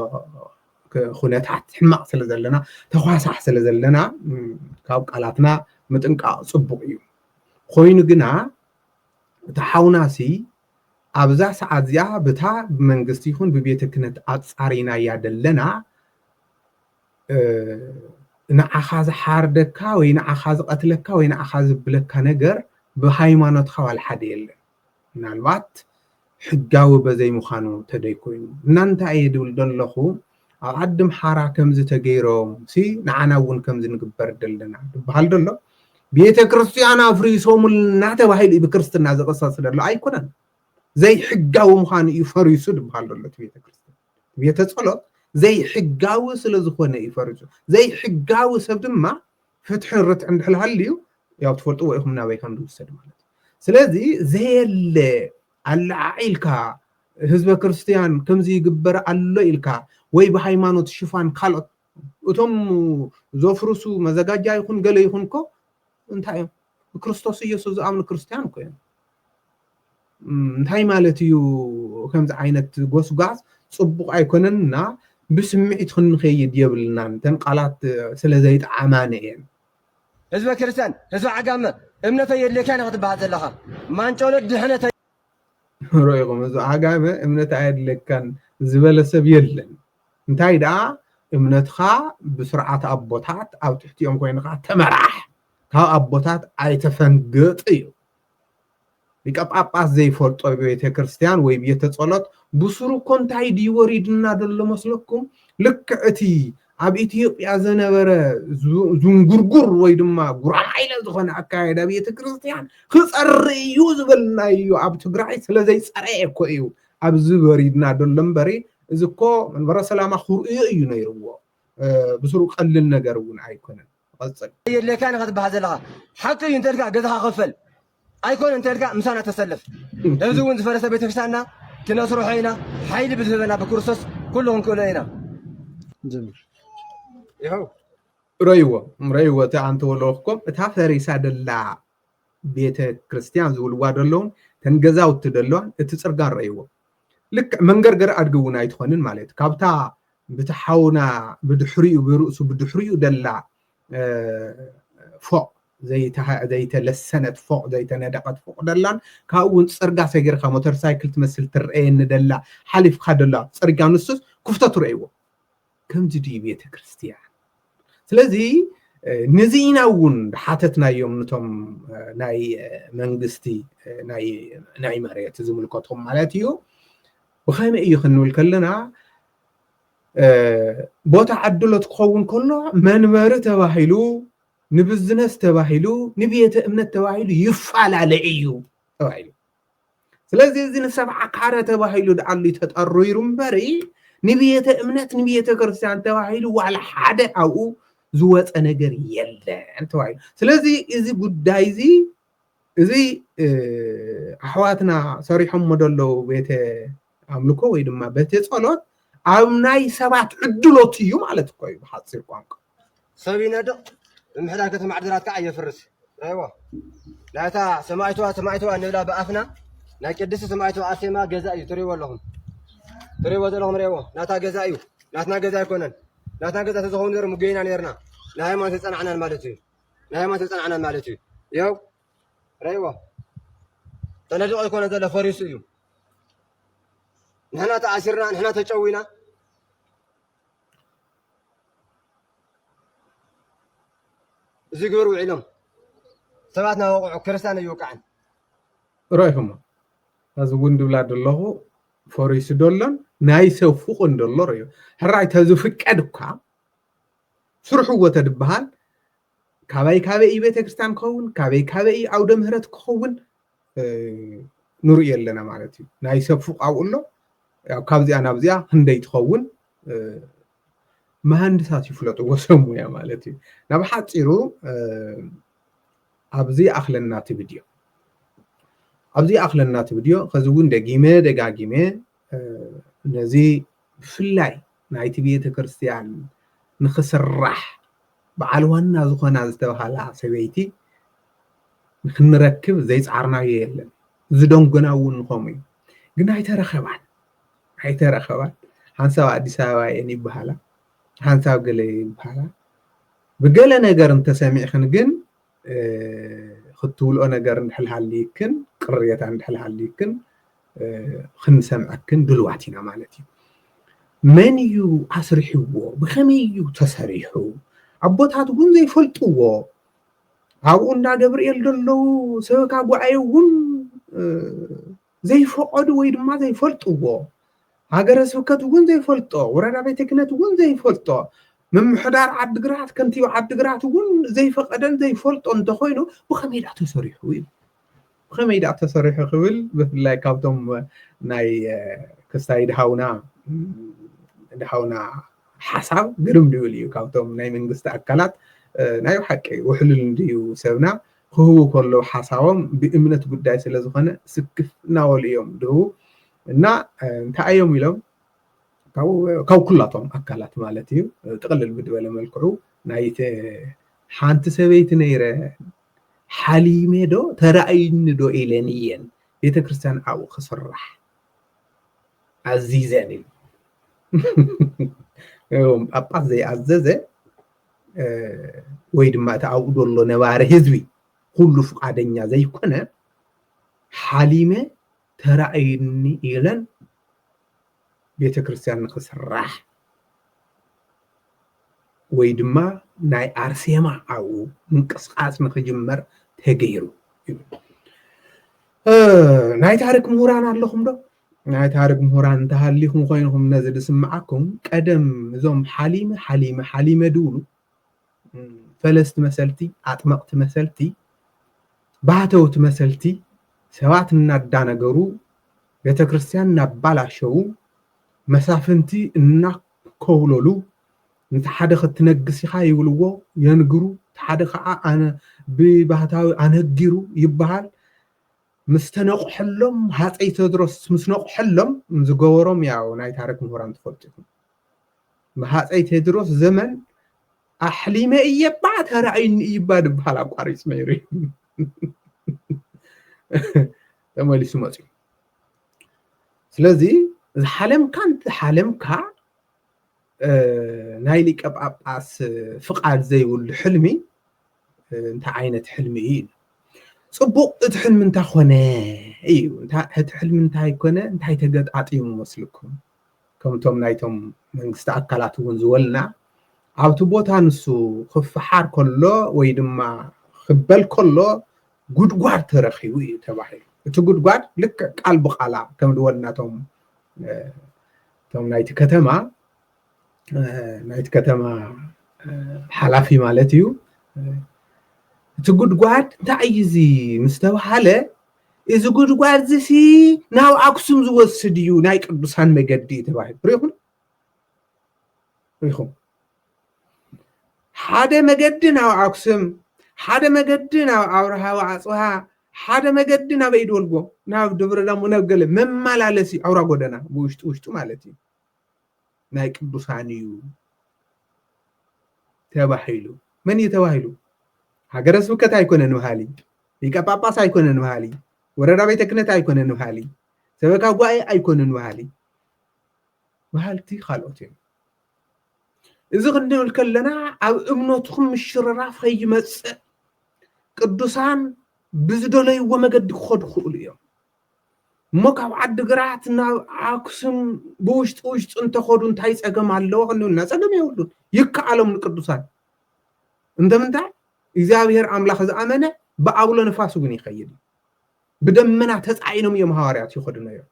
ኩነታት ሕማቕ ስለ ዘለና ተኳሳሕ ስለ ዘለና ካብ ቃላትና ምጥንቃቕ ፅቡቕ እዩ ኾይኑ ግና እቲ ሓውናሲ ኣብዛ ሰዓት እዚኣ ብታ ብመንግስቲ ይኹን ብቤተ ክነት ኣጻሪናያ ደለና ንዓኻ ዝሓርደካ ወይ ንዓኻ ዝቐትለካ ወይ ንዓኻ ዝብለካ ነገር ብሃይማኖትካ ዋላ ሓደ የለን። ምናልባት ሕጋዊ በዘይምዃኑ ተደይ ኮይኑ እና እንታይ እየ ድብል ደለኹ ኣብ ዓዲ ምሓራ ከምዚ ተገይሮም ሲ ንዓና እውን ከምዚ ንግበር ደለና ድበሃል ደሎ ቤተ ክርስቲያን ኣፍሪሶምልና ተባሂሉ ብክርስትና ዝቕሰስ ደሎ ኣይኮነን ዘይሕጋዊ ምዃኑ እዩ ፈሪሱ ድበሃል ደሎ እቲ ቤተ ክርስቲያን ቤተ ጸሎት ዘይሕጋዊ ስለ ዝኾነ እዩ ፈሪሱ ዘይሕጋዊ ሰብ ድማ ፍትሕን ርትዕ እንድሕር ሃልዩ ያው ትፈልጥዎ ኢኹም ናበይ ከም ዝውሰድ ማለት ስለዚ ዘየለ ኣለዓዒልካ ህዝበ ክርስትያን ከምዚ ይግበር ኣሎ ኢልካ ወይ ብሃይማኖት ሽፋን ካልኦት እቶም ዘፍርሱ መዘጋጃ ይኹን ገለ ይኹን እኮ እንታይ እዮም ክርስቶስ ኢየሱስ ዝኣምኑ ክርስትያን እኮ እዮም እንታይ ማለት እዩ ከምዚ ዓይነት ጎስጓስ ፅቡቕ ኣይኮነን እና ብስምዒት ክንኸይድ የብልናን እተን ቃላት ስለዘይጠዓማኒ እየን። ህዝበ
ክርስትያን ህዝበ ዓጋመ እምነተይ የድልየካ ኢና ክትበሃል ዘለኻ ማንጮሎት ድሕነተይ።
ሮኢኹም ህዝቢ ዓጋመ እምነት ኣየድልየካን ዝበለ ሰብ የለን እንታይ ደኣ እምነትኻ ብስርዓት ኣቦታት ኣብ ትሕቲኦም ኮይንኻ ተመራሕ ካብ ኣቦታት ኣይተፈንግጥ እዩ። ሊቀ ጳጳስ ዘይፈልጦ ቤተ ክርስቲያን ወይ ቤተ ጸሎት ብሱሩ እኮ እንታይ ድዩ ወሪድና ዘሎ መስለኩም ልክዕ እቲ ኣብ ኢትዮጵያ ዘነበረ ዝንጉርጉር ወይ ድማ ጉራማይለ ዝኾነ ኣካየዳ ቤተ ክርስቲያን ክጸሪ እዩ ዝበልና እዩ ኣብ ትግራይ ስለ ዘይጸረየ እኮ እዩ ኣብዚ ወሪድና ዘሎ እምበሪ እዚ እኮ መንበረ ሰላማ ክርእዮ እዩ ነይርዎ ብስሩ ቀሊል ነገር እውን ኣይኮነን ቐጽል። የድልየካን ኢኻ ትበሃል
ዘለኻ ሓቂ እዩ እንተልካ ገዛኻ ኽፈል ኣይኮነ እንተልካ ምሳና ተሰለፍ እዚ ውን ዝፈረሰ ቤተክርስቲያንና ክነስርሖ ኢና ሓይሊ ብዝህበና ብክርስቶስ ኩሉ ክንክእሎ ኢና ይኸው ረይዎ ረይዎ እቲ ኣንተ
ወለወክኮም እታ ፈሪሳ ደላ ቤተ ክርስቲያን ዝብልዋ ደለውን ተን ገዛውቲ ደለዋን እቲ ፅርጋን ረይዎ ልክዕ መንገርገር ኣድጊ እውን ኣይትኾንን ማለት ካብታ ብቲ ሓውና ብድሕሪኡ ብርእሱ ብድሕሪኡ ደላ ፎቕ ዘይተለሰነት ፎቕ ዘይተነደቐት ፎቕ ደላን ካብኡ እውን ፅርጋ ሰጊርካ ሞተር ሳይክል ትመስል ትረአየኒ ደላ ሓሊፍካ ደላ ፅርጋ ንሱስ ክፍቶ ትረእይዎ ከምዚ ድዩ ቤተ ክርስቲያን ስለዚ ነዚ ኢና እውን ሓተትናዮም ንቶም ናይ መንግስቲ ናይ መሬት ዝምልከቶም ማለት እዩ ብኸመይ እዩ ክንብል ከለና ቦታ ዓድሎት ክኸውን ከሎ መንበሪ ተባሂሉ ንብዝነስ ተባሂሉ ንቤተ እምነት ተባሂሉ ይፈላለ እዩ ተባሂሉ ስለዚ እዚ ንሰብዓ ካረ ተባሂሉ ድኣሉ ተጠሪሩ እምበሪ ንቤተ እምነት ንቤተ ክርስቲያን ተባሂሉ ዋላ ሓደ ኣብኡ ዝወፀ ነገር የለን ተባሂሉ ስለዚ እዚ ጉዳይ እዚ እዚ ኣሕዋትና ሰሪሖሞ ዘለዉ ቤተ ኣምልኮ ወይ ድማ ቤተ ጸሎት ኣብ ናይ ሰባት ዕድሎት እዩ ማለት እኮ እዩ ብሓፂር ቋንቋ ሰብ ይነድቕ
ምምሕዳር ከተማ ዓድግራት ከዓ የፍርስ ራይዎ ናይታ ሰማይትዋ ሰማይትዋ ንብላ ብኣፍና ናይ ቅድስቲ ሰማይትዋ ኣርሴማ ገዛ እዩ ትሪእዎ ኣለኹም ትሪእዎ ዘለኹም ሪእዎ ናታ ገዛ እዩ ናትና ገዛ ኣይኮነን ናትና ገዛ ተዝኸውን ነሩ ምገይና ነርና ንሃይማኖት የፀናዕናን ማለት እዩ ናይ ሃይማኖት ዝጸናዕና ማለት እዩ ያው ረይዎ ተነዲቑ ኣይኮነ ዘሎ ፈሪሱ እዩ ንሕና ተኣሲርና ንሕና ተጨዊና እዚ ግብር ውዒሎም ሰባት ናወቕዑ ክርስቲያን ኣይወቃዕን
ሮይኹሞ እዚ እውን ድብላ ደለኹ ፈሪሱ ደሎን ናይ ሰብ ፍቑን ደሎ ርዮ ሕራይ ተዝፍቀድ እኳ ስርሕዎ ተድበሃል ካበይ ካበይ እዩ ቤተክርስትያን ክኸውን ካበይ ካበይ እዩ ዓውደ ምህረት ክኸውን ንርእዮ ኣለና ማለት እዩ ናይ ሰብ ፉቕ ኣብኡ ኣሎ ካብዚኣ ናብዚኣ ክንደይ ትኸውን መሃንድሳት ይፍለጥዎ ሰብ ሙያ ማለት እዩ ናብ ሓፂሩ ኣብዚ ኣኽለና እቲ ቪድዮ ኣብዚ ኣኽለና እቲ ቪድዮ ከዚ እውን ደጊመ ደጋጊመ ነዚ ብፍላይ ናይቲ ቤተክርስትያን ንክስራሕ በዓል ዋና ዝኾና ዝተብሃላ ሰበይቲ ንክንረክብ ዘይፃዕርናዮ የለን ዝደንጎና እውን ንኸምኡ እዩ ግን ኣይተረኸባን ኣይተረኸባን ሓንሳብ ኣዲስ ኣበባ እየን ይበሃላ ሓንሳብ ገለ ይበሃላ ብገለ ነገር እንተሰሚዕኽን ግን ክትብልኦ ነገር እንድሕል ሃልይክን ቅሬታ እንድሕል ሃልይክን ክንሰምዐክን ድልዋት ኢና ማለት እዩ መን እዩ ኣስሪሕዎ ብከመይ እዩ ተሰሪሑ ኣቦታት እውን ዘይፈልጥዎ ኣብኡ እንዳ ገብርኤል ዘለዉ ሰበካ ጉዓይ እውን ዘይፈቐዱ ወይ ድማ ዘይፈልጥዎ ሃገረ ስብከት እውን ዘይፈልጦ ወረዳ ቤተ ክህነት እውን ዘይፈልጦ ምምሕዳር ዓድግራት ከንቲባ ዓድግራት እውን ዘይፈቐደን ዘይፈልጦ እንተኾይኑ ብኸመይ ዳኣ ተሰሪሑ እዩ ብኸመይ ዳኣ ተሰሪሑ ክብል ብፍላይ ካብቶም ናይ ክስታይ ድሃውና ድሃውና ሓሳብ ግርም ድብል እዩ ካብቶም ናይ መንግስቲ ኣካላት ናይ ብሓቂ ውሕሉል እንድዩ ሰብና ክህቡ ከለው ሓሳቦም ብእምነት ጉዳይ ስለዝኾነ ስክፍ እናበሉ እዮም ድህቡ እና እንታይ እዮም ኢሎም ካብ ኩላቶም ኣካላት ማለት እዩ ጥቕልል ብድበለ መልክዑ ናይ ሓንቲ ሰበይቲ ነይረ ሓሊሜ ዶ ተራእይኒ ዶ ኢለን እየን ቤተ ክርስቲያን ኣብኡ ክስራሕ ኣዚዘን እዩ ጳጳስ ዘይኣዘዘ ወይ ድማ እቲ ኣብኡ ዘሎ ነባሪ ህዝቢ ኩሉ ፍቃደኛ ዘይኮነ ሓሊመ ተራእዩኒ ኢለን ቤተ ክርስቲያን ንክስራሕ ወይ ድማ ናይ ኣርሴማ ኣብኡ ምንቅስቃስ ንክጅመር ተገይሩ ናይ ታሪክ ምሁራን ኣለኹም ዶ ናይ ታርግ ምሁራን እንተሃሊኹም ኮይንኹም ነዚ ዝስምዓኩም ቀደም እዞም ሓሊመ ሓሊመ ሓሊመ ድብሉ ፈለስቲ መሰልቲ ኣጥመቕቲ መሰልቲ ባህተውቲ መሰልቲ ሰባት እናዳነገሩ ቤተ ክርስቲያን እናባላሸዉ መሳፍንቲ እናኮብለሉ ነቲ ሓደ ክትነግስ ኢኻ ይብልዎ የንግሩ እቲ ሓደ ከዓ ኣነ ብባህታዊ ኣነጊሩ ይበሃል ምስ ተነቁሐሎም ሃጸይ ተድሮስ ምስ ነቁሐሎም ዝገበሮም ያው ናይ ታርክ ምሁራን ትፈልጡ ኢኩም ብሃጸይ ቴድሮስ ዘመን ኣሕሊመ እየ ባዕ ተራእዩኒ እዩ እባ ድበሃል ኣቋሪፁ ነይሩ እዩ ተመሊሱ መፅዩ ስለዚ ዝሓለምካ እንተሓለምካ ናይ ሊቀ ጳጳስ ፍቃድ ዘይብሉ ሕልሚ እንታይ ዓይነት ሕልሚ እዩ ፅቡቅ እቲ ሕልሚ እንታይ ኮነ እዩ እቲ ሕልሚ እንታይ ኮነ እንታይ ተገጣጢሙ መስልኩም ከምቶም ናይቶም መንግስቲ ኣካላት እውን ዝበልና ኣብቲ ቦታ ንሱ ክፈሓር ከሎ ወይ ድማ ክበል ከሎ ጉድጓድ ተረኪቡ እዩ ተባሂሉ እቲ ጉድጓድ ልክዕ ቃል ብቃላ ከም ዝበልናቶም እቶም ናይቲ ከተማ ናይቲ ከተማ ሓላፊ ማለት እዩ እቲ ጉድጓድ እንታይ እዩ እዚ ምስ ተባሃለ እዚ ጉድጓድ እዚ ሲ ናብ ኣክሱም ዝወስድ እዩ ናይ ቅዱሳን መገዲ ተባሂሉ ሪኢኹም ሪኢኹም ሓደ መገዲ ናብ ኣክሱም ሓደ መገዲ ናብ ኣብርሃ ወኣጽብሃ ሓደ መገዲ ናብ ኢድወልጎ ናብ ድብረ ዳሞ ናብ ገለ መመላለሲ ኣውራ ጎደና ብውሽጢ ውሽጡ ማለት እዩ ናይ ቅዱሳን እዩ ተባሂሉ መን እዩ ተባሂሉ ሃገረ ስብከት ኣይኮነን በሃሊ ሊቀ ጳጳስ ኣይኮነን በሃሊ ወረዳ ቤተ ክህነት ኣይኮነን በሃሊ ሰበካ ጉባኤ ኣይኮነን በሃሊ በሃልቲ ካልኦት እዮም እዚ ክንብል ከለና ኣብ እምነትኩም ምሽርራፍ ከይመጽእ ቅዱሳን ብዝደለይዎ መገዲ ክኸዱ ክኽእሉ እዮም እሞ ካብ ዓዲግራት ናብ ኣክሱም ብውሽጢ ውሽጢ እንተኸዱ እንታይ ፀገም ኣለዎ ክንብልና ፀገም የብሉን ይከኣሎም ንቅዱሳን እንተምንታይ እግዚኣብሔር ኣምላኽ ዝኣመነ ብኣውሎ ንፋስ እውን ይኸይድ ብደመና ተፃዒኖም እዮም ሃዋርያት ይኸዱ ነይሮም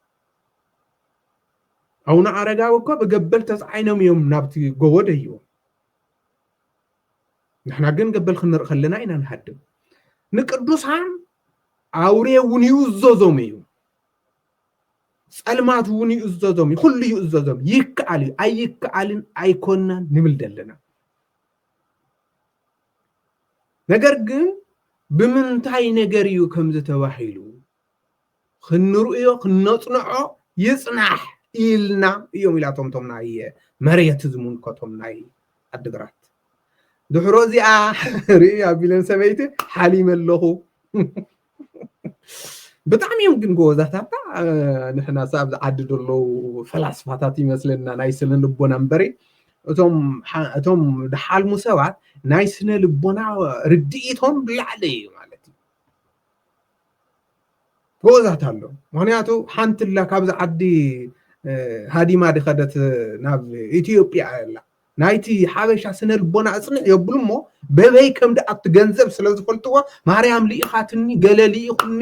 ኣውነ ኣረጋዊ እኮ ብገበል ተፃዒኖም እዮም ናብቲ ጎቦ ደይቦም ንሕና ግን ገበል ክንርኢ ከለና ኢና ንሃድም ንቅዱሳን ኣውሬ እውን ይእዘዞም እዩ ፀልማት እውን ይእዘዞም እዩ ኩሉ ይእዘዞም ይከኣል እዩ ኣይከኣልን ኣይኮናን ንብል ዘለና ነገር ግን ብምንታይ ነገር እዩ ከምዚ ተባሂሉ ክንርእዮ ክነጽንዖ ይጽናሕ ኢልና እዮም ኢላቶም እቶም ናይ መሬት ዝምልከቶም ናይ ዓዲግራት ድሕሮ እዚኣ ርኢ ኣቢለን ሰበይቲ ሓሊመ ኣለኹ ብጣዕሚ እዮም ግን ጎበዛታታ ንሕና ሳ ኣብዚ ዓዲ ዘለዉ ፈላስፋታት ይመስለና ናይ ስነ ልቦና እምበሪ እቶም ድሓልሙ ሰባት ናይ ስነ ልቦና ርድኢቶም ብላዕሊ እዩ ማለት እዩ ጎበዛት ኣሎ ምክንያቱ ሓንትላ ካብዚ ዓዲ ሃዲማ ድኸደት ናብ ኢትዮጵያ ኣላ ናይቲ ሓበሻ ስነ ልቦና እፅንዕ የብሉ እሞ በበይ ከም ድኣቱ ገንዘብ ስለ ዝፈልጥዎ ማርያም ልኢኻትኒ ገለ ልኢኹኒ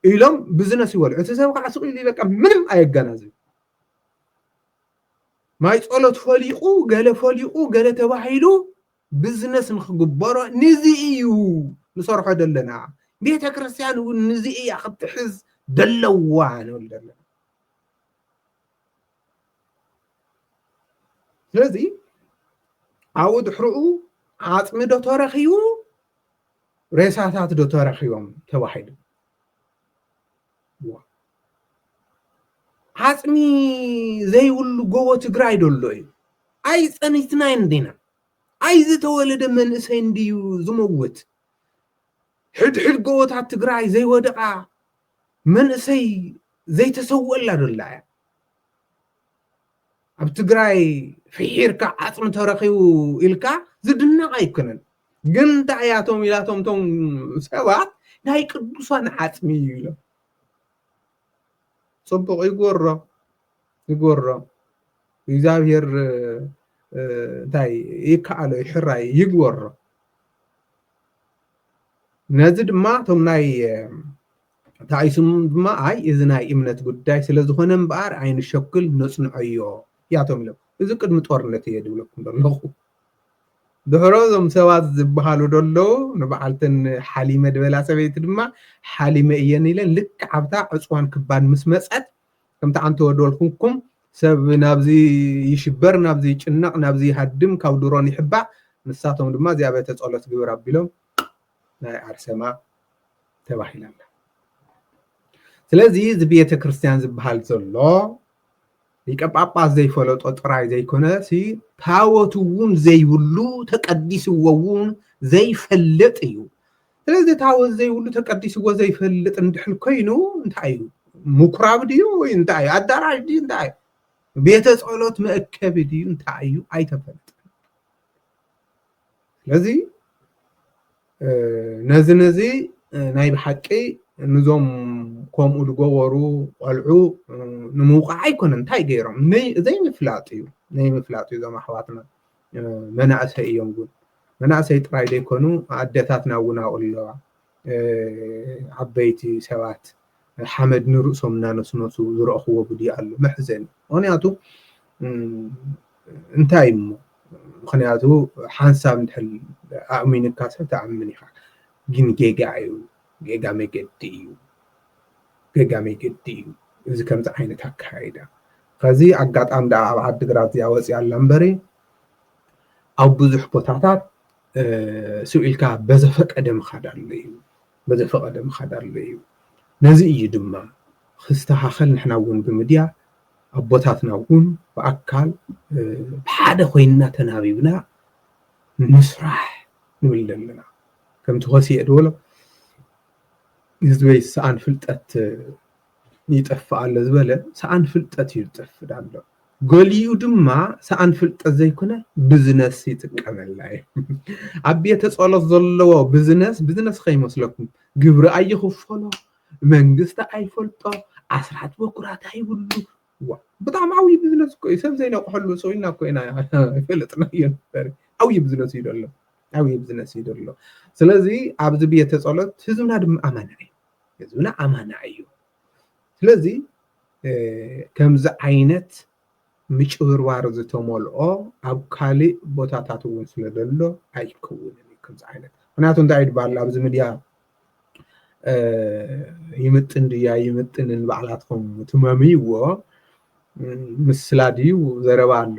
ኢሎም ብዝነስ ይበሉ እቲ ሰብ ከዓ ስቕ ኢሉ በቃ ምንም ኣየገናዝብ ማይ ጸሎት ፈሊቑ ገለ ፈሊቑ ገለ ተባሂሉ ብዝነስ ንክግበሮ ንዚ ኢዩ ንሰርሖ ደለና ቤተክርስትያን ውን ንዚ ኢያ ክትሕዝ ደለዋ ንብል ደለና ስለዚ ኣብኡ ድሕርኡ ዓፅሚ ዶ ተረኪቡ ሬሳታት ዶ ተረኪቦም ተባሂሉ ዓፅሚ ዘይብሉ ጎቦ ትግራይ ዶ ኣሎ እዩ? ኣይፀኒትናን ዲና? ኣይዝተወለደ መንእሰይ እንድዩ ዝመውት? ሕድሕድ ጎቦታት ትግራይ ዘይወደቓ መንእሰይ ዘይተሰወላ ዶ ኣላ እያ? ኣብ ትግራይ ፍሒርካ ዓፅሚ ተረኺቡ ኢልካ ዝድነቕ ኣይኮነን ግን እንታይ እያቶም ኢላቶም እቶም ሰባት ናይ ቅዱሳን ዓፅሚ እዩ ኢሎም ፅቡቕ ይጎሮ ይጎሮ እግዚኣብሔር እንታይ ይከኣሎ ይሕራይ ይግበሮ ነዚ ድማ እቶም ናይ ተኣይሱም ድማ ኣይ እዚ ናይ እምነት ጉዳይ ስለዝኾነ እምበኣር ኣይንሸኩል ነጽንዖዮ ያቶም ኢሎም እዚ ቅድሚ ጦርነት እየ ድብለኩም ደለኹ ድሕሮ እዞም ሰባት ዝበሃሉ ደለዉ ንበዓልተን ሓሊመ ድበላ ሰበይቲ ድማ ሓሊመ እየን ኢለን ልክዕ ኣብታ ዕፅዋን ክባን ምስ መፀት ከምቲ ዓንተ ወደልኩምኩም ሰብ ናብዚ ይሽበር ናብዚ ይጭነቕ ናብዚ ይሃድም ካብ ድሮን ይሕባእ ንሳቶም ድማ እዚኣ ቤተ ጸሎት ግብር ኣቢሎም ናይ ኣርሴማ ተባሂላ ኣላ ስለዚ እዚ ቤተ ክርስቲያን ዝበሃል ዘሎ ሊቀ ጳጳስ ዘይፈለጦ ጥራይ ዘይኮነ ሲ ታወት እውን ዘይብሉ ተቀዲስዎ እውን ዘይፈልጥ እዩ ስለዚ ታወት ዘይብሉ ተቀዲስዎ ዘይፈልጥ እንድሕር ኮይኑ እንታይ እዩ ምኩራብ ድዩ ወይ እንታይ እዩ ኣዳራሽ ድዩ እንታይ እዩ ቤተ ጸሎት መእከቢ ድዩ እንታይ እዩ ኣይተፈልጥን ስለዚ ነዚ ነዚ ናይ ብሓቂ ንዞም ከምኡ ዝገበሩ ቆልዑ ንምውቃዕ ኣይኮነ እንታይ ገይሮም ዘይምፍላጥ እዩ ዘይምፍላጥ እዩ እዞም ኣሕዋትና መናእሰይ እዮም እውን መናእሰይ ጥራይ ዘይኮኑ ኣደታትና እውን ኣብኡ ኣለዋ ዓበይቲ ሰባት ሓመድ ንርእሶም እናነስነሱ ዝረእኽዎ ቪድዮ ኣሎ መሕዘኒ ምኽንያቱ እንታይ እሞ ምኽንያቱ ሓንሳብ እንድሕር ኣእሚንካ ሰብ ተኣምን ኢኻ ግን ጌጋ እዩ ጌጋ መገዲ እዩ ጌጋ መገዲ እዩ እዚ ከምዚ ዓይነት ኣካይዳ ከዚ ኣጋጣሚ ደኣ ኣብ ዓዲግራት እዚኣ ወፂኣ ኣላ እምበሪ ኣብ ብዙሕ ቦታታት ስብ ኢልካ በዘፈቀደ ምኻድ ኣሎ እዩ በዘፈቀደ ምኻድ ኣሎ እዩ ነዚ እዩ ድማ ክስተኻኸል ንሕና እውን ብምድያ ኣቦታትና እውን ብኣካል ብሓደ ኮይንና ተናቢብና ንስራሕ ንብል ዘለና ከምቲ ኮስየ ድበሎ ህዝበይ ሰኣን ፍልጠት ይጠፍእ ኣሎ ዝበለ ሰኣን ፍልጠት እዩ ዝጠፍእ ዳሎ ገሊኡ ድማ ሰኣን ፍልጠት ዘይኮነ ብዝነስ ይጥቀመላ እዩ ኣብ ቤተ ጸሎት ዘለዎ ብዝነስ ብዝነስ ከይመስለኩም ግብሪ ኣይኽፈሎ መንግስቲ ኣይፈልጦ ኣስራት በኩራት ኣይብሉ ዋ ብጣዕሚ ዓብዪ ብዝነስ እኮ እዩ ሰብ ዘይነቕሐሉ ሰው ኢልና እኮ ኢና ፈለጥናዮ ነበር ዓብዪ ብዝነስ እዩ ደሎ ዓብዪ ብዝነስ እዩ ደሎ ስለዚ ኣብዚ ቤተ ጸሎት ህዝብና ድማ ኣማና እዩ ህዝብና ኣማና እዩ ስለዚ ከምዚ ዓይነት ምጭብርባር ዝተመልኦ ኣብ ካልእ ቦታታት እውን ስለ ዘሎ ኣይከውንን እዩ ከምዚ ዓይነት ምክንያቱ እንታይ እዩ ድበሃል ኣብዚ ሚድያ ይምጥን ድያ ይምጥንን ባዕላትኩም ትመምይዎ ምስላ ድዩ ዘረባ ኣሎ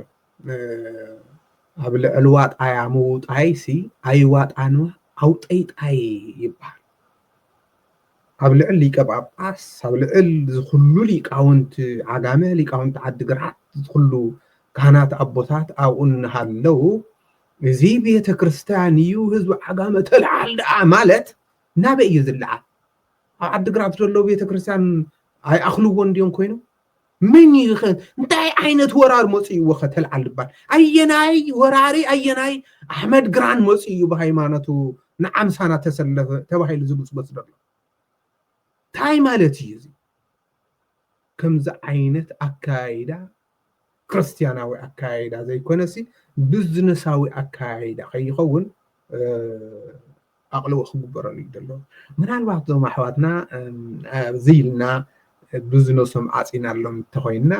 ኣብ ልዕሊ ዋጣያ ምውጣይሲ ኣይዋጣንዋ ኣውጠይጣይ ይበሃል ኣብ ልዕል ሊቀ ጳጳስ ኣብ ልዕል ዝኩሉ ሊቃውንቲ ዓጋመ ሊቃውንቲ ዓዲግራት ዝኩሉ ካህናት ኣቦታት ኣብኡ እናሃለው እዚ ቤተ ክርስቲያን እዩ ህዝቢ ዓጋመ ተልዓል ደኣ ማለት ናበይ እዩ ዝለዓል ኣብ ዓዲግራት ዘሎ ቤተ ክርስቲያን ኣይኣኽልዎን ድዮም ኮይኖም መን እዩ ከ እንታይ ዓይነት ወራር መፅእዎ ከተልዓል ድባል ኣየናይ ወራሪ ኣየናይ ኣሕመድ ግራን መፅኡ እዩ ብሃይማኖቱ ንዓምሳና ተሰለፈ ተባሂሉ ዝጉፅጎፅ ዘሎ እንታይ ማለት እዩ እዚ ከምዚ ዓይነት ኣካይዳ ክርስትያናዊ ኣከያይዳ ዘይኮነሲ ብዝነሳዊ ኣከያይዳ ከይኸውን ኣቕልቦ ክግበረሉ እዩ ዘሎ ምናልባት እዞም ኣሕዋትና ኣብዚ ኢልና ብዝነሶም ዓፂናሎም እንተኮይንና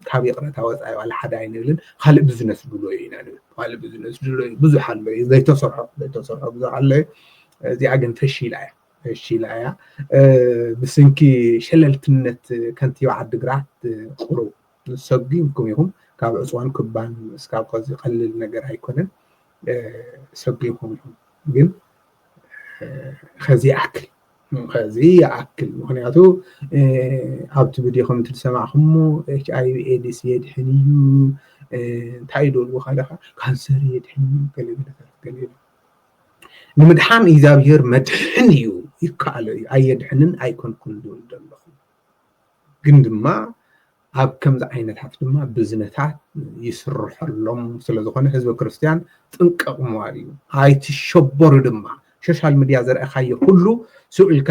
ካብ ይቕረታ ወፃኢ ዋላ ሓደ ኣይንብልን ካልእ ብዝነስ ድሎ እዩ ኢና ንብል ካልእ ብዝነስ ድሎ እዩ ብዙሕ ኣሎ እዩ ዘይተሰርሖ ዘይተሰርሖ ብዙሕ ኣሎ እዩ እዚኣ ግን ፈሺላ እያ እሺ ኢላያ ብስንኪ ሸለልትነት ከንቲባ ዓዲግራት ቁሩብ ሰጒምኩም ኢኹም ካብ ዕፅዋን ክባን እስካብ ከዚ ቀልል ነገር ኣይኮነን ሰጒምኩም ኢኹም ግን ከዚ ይኣክል ከዚ ይኣክል ምክንያቱ ኣብቲ ቪድዮ ከም ትሰማዕኩሞ ኤች ኣይቪ ኤድስ የድሕን እዩ እንታይ እዩ ደልዎ ካለካ ካንሰር የድሕን እዩ ገለገለታት ገለ ንምድሓን እግዚኣብሄር መድሕን እዩ ይከኣሎ እዩ ኣየድሕንን ኣይኮንኩን ዝብል ዘለኹ ግን ድማ ኣብ ከምዚ ዓይነታት ድማ ብዝነታት ይስርሐሎም ስለዝኾነ ህዝበ ክርስትያን ጥንቀቕ ምባል እዩ ኣይትሸበሩ ድማ ሶሻል ሚድያ ዘርእኻዮ ኩሉ ስኡ ኢልካ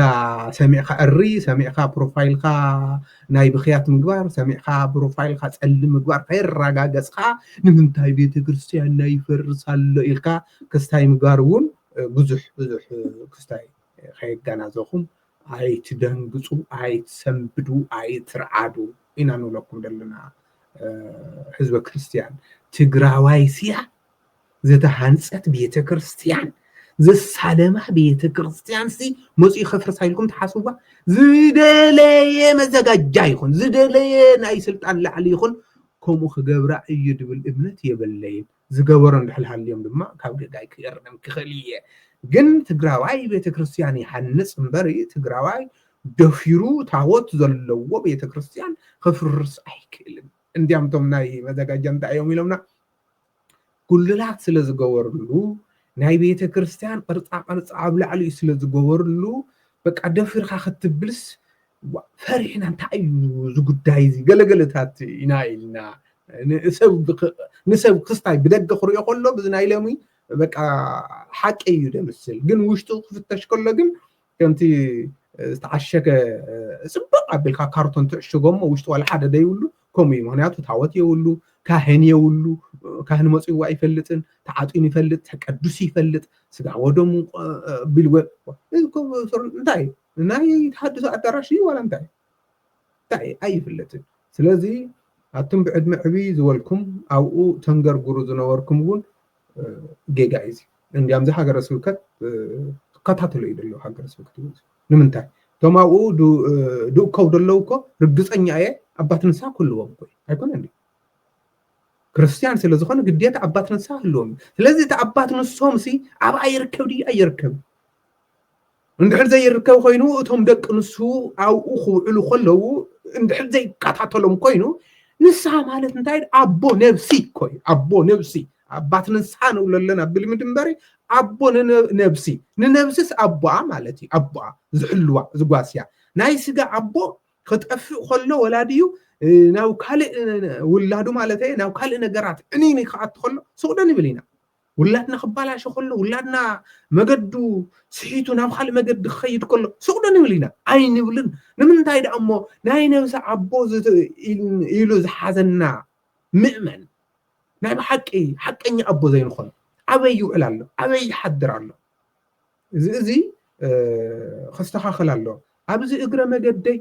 ሰሚዕካ እሪ ሰሚዕካ ፕሮፋይልካ ናይ ብኽያት ምግባር ሰሚዕካ ብሮፋይልካ ጸሊም ምግባር ከይራጋገጽካ ንምንታይ ቤተክርስትያንና ይፈርስ ኣሎ ኢልካ ክስታይ ምግባር እውን ብዙሕ ብዙሕ ክስታይ ከየጋናዘኹም ኣይትደንግጹ ኣይትሰንብዱ ኣይትርዓዱ ኢና ንብለኩም ዘለና ህዝበ ክርስትያን ትግራዋይ ስያ ዝተሃንጸት ቤተ ክርስትያን ዘሳለማ ቤተ ክርስትያን ሲ መጽኡ ከፍርሳ ኢልኩም ትሓስቡባ ዝደለየ መዘጋጃ ይኹን ዝደለየ ናይ ስልጣን ላዕሊ ይኹን ከምኡ ክገብራ እዩ ድብል እምነት የበለይን ዝገበሮ እንድሕል ሃልዮም ድማ ካብ ገጋይ ክእርም ክኽእል እየ ግን ትግራዋይ ቤተክርስትያን ይሃንፅ እምበር ትግራዋይ ደፊሩ ታቦት ዘለዎ ቤተክርስትያን ክፍርስ ኣይክእልን እንዲያም ቶም ናይ መዘጋጃ እንታይ እዮም ኢሎምና ጉልላት ስለ ዝገበርሉ ናይ ቤተ ክርስትያን ቅርጻ ቅርጺ ኣብ ላዕሊኡ ስለ ዝገበርሉ በቃ ደፊርካ ክትብልስ ፈሪሕና እንታይ እዩ እዚ ጉዳይ እዚ ገለገለታት ኢና ኢልና ንሰብ ክስታይ ብደገ ክሪኦ ከሎ ብዚ ናይ ሎሚ በቃ ሓቂ እዩ ደምስል ግን ውሽጡ ክፍተሽ ከሎ ግን ከምቲ ዝተዓሸገ ፅብቕ ኣቢልካ ካርቶን ትዕሽጎ እሞ ውሽጢ ዋላ ሓደ ዘይብሉ ከምኡ እዩ ምክንያቱ ታወት የብሉ ካህን የብሉ ካህን መፅዎ ኣይፈልጥን ተዓጢኑ ይፈልጥ ተቀዱሱ ይፈልጥ ስጋ ወደሙ ቢልወ እንታይ ናይ ተሃድሶ ኣዳራሽ እዩ ዋላ እንታይ እንታይ እዩ ኣይፍለጥን ስለዚ ኣቱም ብዕድመ ዕብይ ዝበልኩም ኣብኡ ተንገርግሩ ዝነበርኩም እውን ጌጋ እዩ እዚ እንዲያም እዚ ሃገረ ስብከት ክከታተሎ እዩ ደለዉ ሃገረ ስብከት እዩ ንምንታይ እቶም ኣብኡ ድእከው ደለዉ እኮ ርግፀኛ እየ ኣባት ንሳ ክህልዎም እኮ ኣይኮነን እዩ ክርስትያን ስለ ዝኾነ ግዴታ ኣባት ንሳ ህልዎም እዩ ስለዚ እቲ ኣባት ንሶምሲ ኣብኣ ይርከብ ድዩ ኣይርከብን እንድሕር ዘይርከብ ኮይኑ እቶም ደቂ ንሱ ኣብኡ ክውዕሉ ከለዉ እንድሕር ዘይከታተሎም ኮይኑ ንስሓ ማለት እንታይ ኣቦ ነብሲ ኮይ ኣቦ ነብሲ ኣባት ንስሓ ንብሎ ኣለና ብልምድ እምበሪ ኣቦ ነብሲ ንነብስስ ኣቦኣ ማለት እዩ ኣቦኣ ዝሕልዋ ዝጓስያ ናይ ስጋ ኣቦ ክጠፍእ ከሎ ወላድዩ ናብ ካልእ ውላዱ ማለት እየ ናብ ካልእ ነገራት ዕኒኒ ክኣቱ ከሎ ስቕዶ ንብል ኢና ውላድና ክባላሾ ከሎ ውላድና መገዱ ስሒቱ ናብ ካልእ መገዲ ክኸይድ ከሎ ሱቕ ዶ ንብል ኢና ኣይንብልን ንምንታይ ደኣ እሞ ናይ ነብሲ ኣቦ ኢሉ ዝሓዘና ምእመን ናይ ብሓቂ ሓቀኛ ኣቦ ዘይንኾን ኣበይ ይውዕል ኣሎ ኣበይ ይሓድር ኣሎ እዚ እዚ ክስተኻኸል ኣሎ ኣብዚ እግረ መገደይ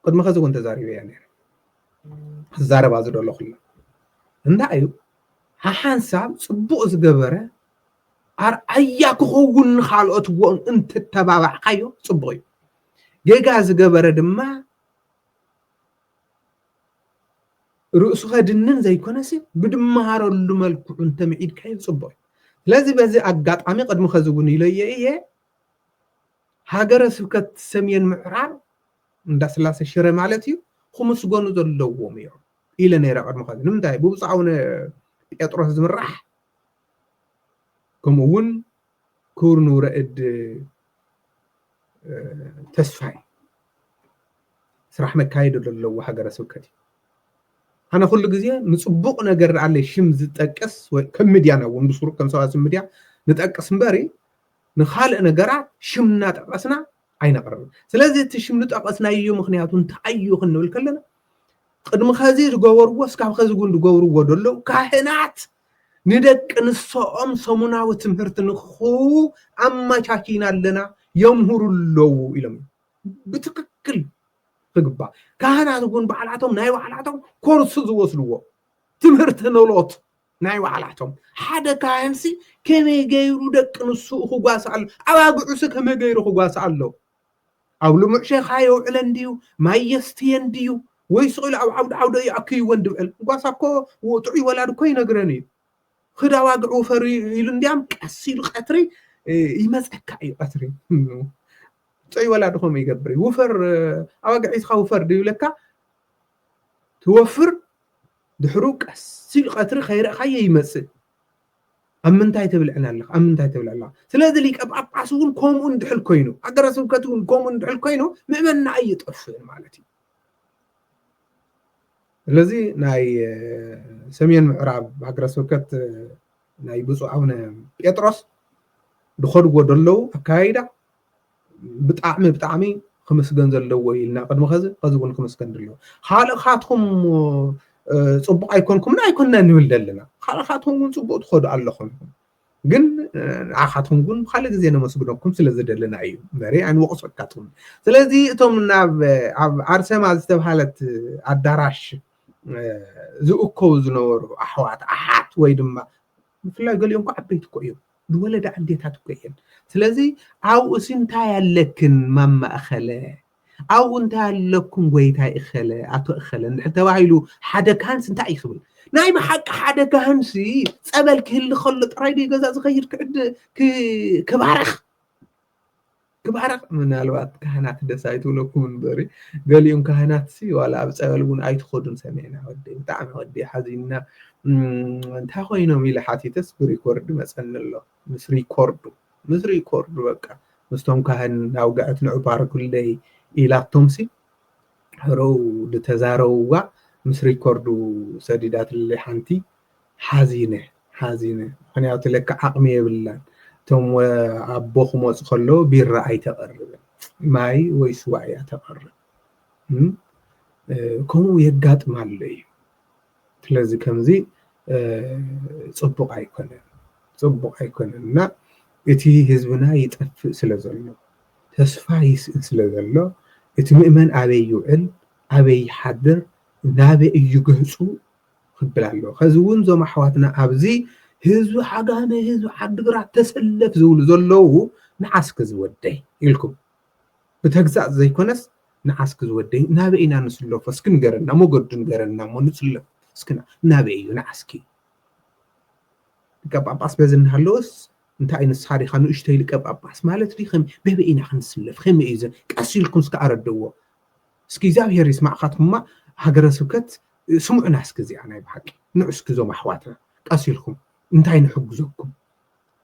ቅድሚ ከዚ እውን ተዛሪበያ ነይረ ክዛረባ ዝደለኹላ እንታይ እዩ ሓሓንሳብ ፅቡቕ ዝገበረ ኣርኣያ ክኸውን ንካልኦት እውን እንትተባባዕካዮ ፅቡቕ እዩ ጌጋ ዝገበረ ድማ ርእሱ ከድንን ዘይኮነሲ ብድመሃረሉ መልክዑ እንተምዒድካዮ ፅቡቅ እዩ ስለዚ በዚ ኣጋጣሚ ቅድሚ ከዚ እውን ኢለዮ እየ ሃገረ ስብከት ሰሜን ምዕራብ እንዳስላሰ ሽረ ማለት እዩ ክምስገኑ ዘለዎም እዮም ኢለ ነይረ ቅድሚ ከዚ ንምንታይ ብብፁዕ ኣቡነ ጴጥሮስ ዝምራሕ ከምኡ እውን ክቡር ንውረ እድ ተስፋይ ስራሕ መካየዲ ዘለዎ ሃገረ ስብከት እዩ ኣነ ኩሉ ግዜ ንፅቡቅ ነገር ኣለ ሽም ዝጠቅስ ከም ሚድያና እውን ብስሩ ከም ሰባስብ ሚድያ ንጠቅስ እምበሪ ንካልእ ነገራት ሽም እናጠቐስና ኣይነቕርብን። ስለዚ እቲ ሽም ዝጠቐስናዮ ምኽንያቱ እንታይ እዩ ክንብል ከለና ቅድሚ ኸዚ ዝገበርዎ እስካብ ኸዚ እውን ዝገብርዎ ዘለዉ ካህናት ንደቂ ንሰኦም ሰሙናዊ ትምህርቲ ንክኽህቡ ኣመቻቺና ኣለና የምህሩ ኣለዉ ኢሎም ብትክክል ክግባእ ካህናት እውን ባዕላቶም ናይ ባዕላቶም ኮርስ ዝወስድዎ ትምህርቲ ኖሎት ናይ ባዕላቶም ሓደ ካህንሲ ከመይ ገይሩ ደቂ ንስኡ ክጓሳ ኣሎ ኣባግዑሲ ከመይ ገይሩ ክጓሳ ኣሎ ኣብ ልሙዕ ሸኻ የውዕለን ድዩ ማይ የስትየን ድዩ ወይ ስቕኢሉ ኣብ ዓውዲ ዓውደ እዩ ኣክይወን ድብዕል ጓሳ እኮ ጥዑይ ወላድ እኮ ይነግረን እዩ ኽዳ ዋግዕ ውፈር ኢሉ እንዲያም ቀስ ኢሉ ቀትሪ ይመፀካ እዩ ቀትሪ ጥዑይ ወላድ ከምኡ ይገብር እዩ ውፈር ኣባግዕ ሒዝካ ውፈር ድዩ ይብለካ ትወፍር ድሕሩ ቀስ ኢሉ ቀትሪ ከይረእኻዮ ይመጽእ ኣብ ምንታይ ተብልዕን ኣለኻ ኣብ ምንታይ ተብልዕ ኣለኻ ስለዚ ሊቀ ጳጳስ እውን ከምኡ እንድሕል ኮይኑ ሃገረ ስብከት እውን ከምኡ እንድሕል ኮይኑ ምእመና ኣይጠፍእን ማለት እዩ ስለዚ ናይ ሰሜን ምዕራብ ሃገረ ስብከት ናይ ብፁዕ ኣቡነ ጴጥሮስ ዝኸድዎ ዘለዉ ኣካይዳ ብጣዕሚ ብጣዕሚ ክምስገን ዘለዎ እዩ ኢልና ቅድሚ ከዚ ከዚ እውን ክምስገን ድልዮ ካልእካትኩም ፅቡቅ ኣይኮንኩምን ኣይኮንና ንብል ዘለና ካልእካትኩም እውን ፅቡቅ ትኸዱ ኣለኹም ግን ንዓኻትኩም ግን ብካልእ ግዜ ነመስግነኩም ስለ ዝደለና እዩ መሬ ኣይንወቅሶ ኣካትኩም ስለዚ እቶም ናብ ኣብ ኣርሰማ ዝተብሃለት ኣዳራሽ ዝእከቡ ዝነበሩ ኣሕዋት ኣሓት ወይ ድማ ብፍላይ ገሊኦም እኮ ዓበይቲ እኮ እዮም ዝወለዳ ኣዴታት እኮ እየን ስለዚ ኣብኡሲ እንታይ ኣለክን ማማ እኸለ ኣብኡ እንታይ ኣለኩም ጎይታይ እኸለ ኣቶ እኸለ እንድሕር ተባሂሉ ሓደ ካህንሲ እንታይ እዩ ክብል ናይ ብሓቂ ሓደ ካህንሲ ፀበል ክህሊ ከሎ ጥራይ ዶ ገዛ ዝኸይድ ክባረኽ ትባረኽ ምናልባት ካህናት ደስ ኣይትብለኩም እንበሪ ገሊኡም ካህናት ሲ ዋላ ኣብ ጸበል እውን ኣይትኸዱን ሰሚዕና ወደይ ብጣዕሚ ወደይ ሓዚንና እንታይ ኮይኖም ኢለ ሓቲተስ ብሪኮርድ መጸኒ ኣሎ ምስ ሪኮርዱ ምስ ሪኮርዱ በቃ ምስቶም ካህን ኣውግዐት ንዑ ባርኩለይ ኢላቶም ሲ ሕረው ዝተዛረውዋ ምስ ሪኮርዱ ሰዲዳትለይ ሓንቲ ሓዚነ ሓዚነ ምክንያቱ ለካ ዓቅሚ የብላን እቶም ኣቦ ክመፁ ከለዉ ቢራ ኣይተቅርብን ማይ ወይ ስዋ እያ ተቅርብ ከምኡ የጋጥም ኣሎ እዩ ስለዚ ከምዚ ፅቡቅ ኣይኮነን ፅቡቅ ኣይኮነን እና እቲ ህዝብና ይጠፍእ ስለ ዘሎ ተስፋ ይስእን ስለ ዘሎ እቲ ምእመን ኣበይ ይውዕል ኣበይ ይሓድር ናበይ እዩ ገፁ ክብል ኣለዎ ከዚ እውን እዞም ኣሕዋትና ኣብዚ ህዝቢ ዓጋመ ህዝቢ ዓዲግራት ተሰለፍ ዝብሉ ዘለዉ ንዓስኪ ዝወደይ ኢልኩም ብተግሳፅ ዘይኮነስ ንዓስኪ ዝወደይ ናበይ ኢና ንስለፎ እስኪ ንገረና መገዱ ንገረና እሞ ንፅለፍ እስኪ ናበይ እዩ ንዓስኪ ሊቀ ጳጳስ በዚ እናሃለወስ እንታይ እዩ ንስኻ ዲኻ ንእሽተይ ሊቀ ጳጳስ ማለት ዲ በበይ ኢና ክንስለፍ ከመይ እዩ ቀስ ኢልኩም እስኪ ኣረድእዎ እስኪ እግዚኣብሄር ይስማዕካትኩማ ሃገረ ስብከት ስምዑና እስኪ እዚኣ ናይ ብሓቂ ንዑ እስኪ እዞም ኣሕዋትና ቀስ ኢልኩም እንታይ ንሕግዘኩም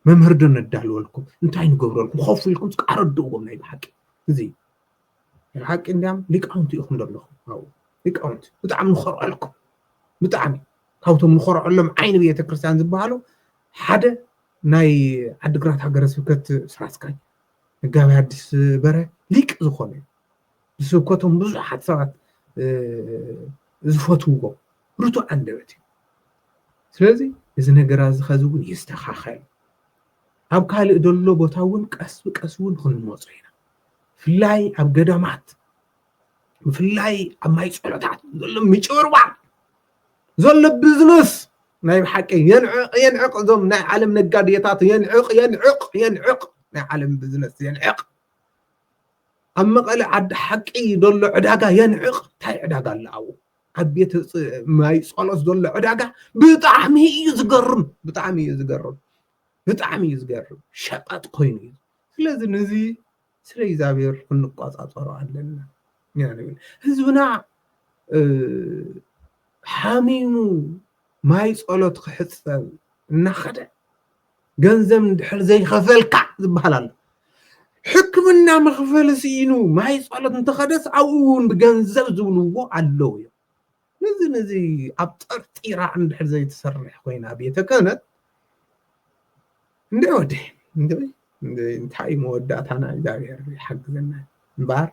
መምህር ዶ ነዳልወልኩም እንታይ ንገብረልኩም ኮፍ ኢልኩም እስኪ ኣረድእዎም ናይ ብሓቂ እዚ ናይ ብሓቂ እንዲያም ሊቃውንቲ ኢኹም ዘለኹም ኣብኡ ሊቃውንቲ ብጣዕሚ ንኾርዐልኩም ብጣዕሚ ካብቶም ንኾርዐሎም ዓይኒ ቤተ ክርስቲያን ዝበሃሉ ሓደ ናይ ዓዲግራት ሃገረ ስብከት ስራ ኣስኪያጅ መጋቢ ኣዲስ በረ ሊቅ ዝኾነ እዩ ብስብከቶም ብዙሓት ሰባት ዝፈትውዎ ርቱዕ ኣንደበት እዩ ስለዚ እዚ ነገር እዚ ኸዚ እውን ይስተኻኸል ኣብ ካልእ ዘሎ ቦታ እውን ቀስ ብቀስ እውን ክንመፁ ኢና ብፍላይ ኣብ ገዳማት ብፍላይ ኣብ ማይ ፀሎታት ዘሎ ምጭብርባር ዘሎ ቢዝነስ ናይ ብሓቂ የንዕቕ የንዕቕ እዞም ናይ ዓለም ነጋዴታት የንዕቕ የንዕቕ የንዕቕ ናይ ዓለም ቢዝነስ የንዕቕ ኣብ መቐለ ዓዲ ሓቂ ዘሎ ዕዳጋ የንዕቕ እንታይ ዕዳጋ ኣሎ ኣብኡ ኣብ ቤት ማይ ጸሎት ዘሎ ዕዳጋ ብጣዕሚ እዩ ዝገርም ብጣዕሚ እዩ ዝገርም ብጣዕሚ እዩ ዝገርም ሸቐጥ ኮይኑ እዩ ስለዚ ነዚ ስለ እግዚኣብሔር ክንቆፃፀሮ ኣለና ንብል ህዝብና ሓሚሙ ማይ ፀሎት ክሕፀብ እናኸደ ገንዘብ እንድሕር ዘይኸፈልካ ዝበሃል ኣሎ ሕክምና መኽፈሊ ስኢኑ ማይ ጸሎት እንተኸደስ ኣብኡ እውን ብገንዘብ ዝብልዎ ኣለዉ እዮም ነዚ ነዚ ኣብ ጠርጢራ እንድሕር ዘይትሰርሕ ኮይና ቤተ ክህነት እንደ ወደ እንታይ እዩ መወዳእታና እግዚኣብሔር ይሓግዘና እምበኣር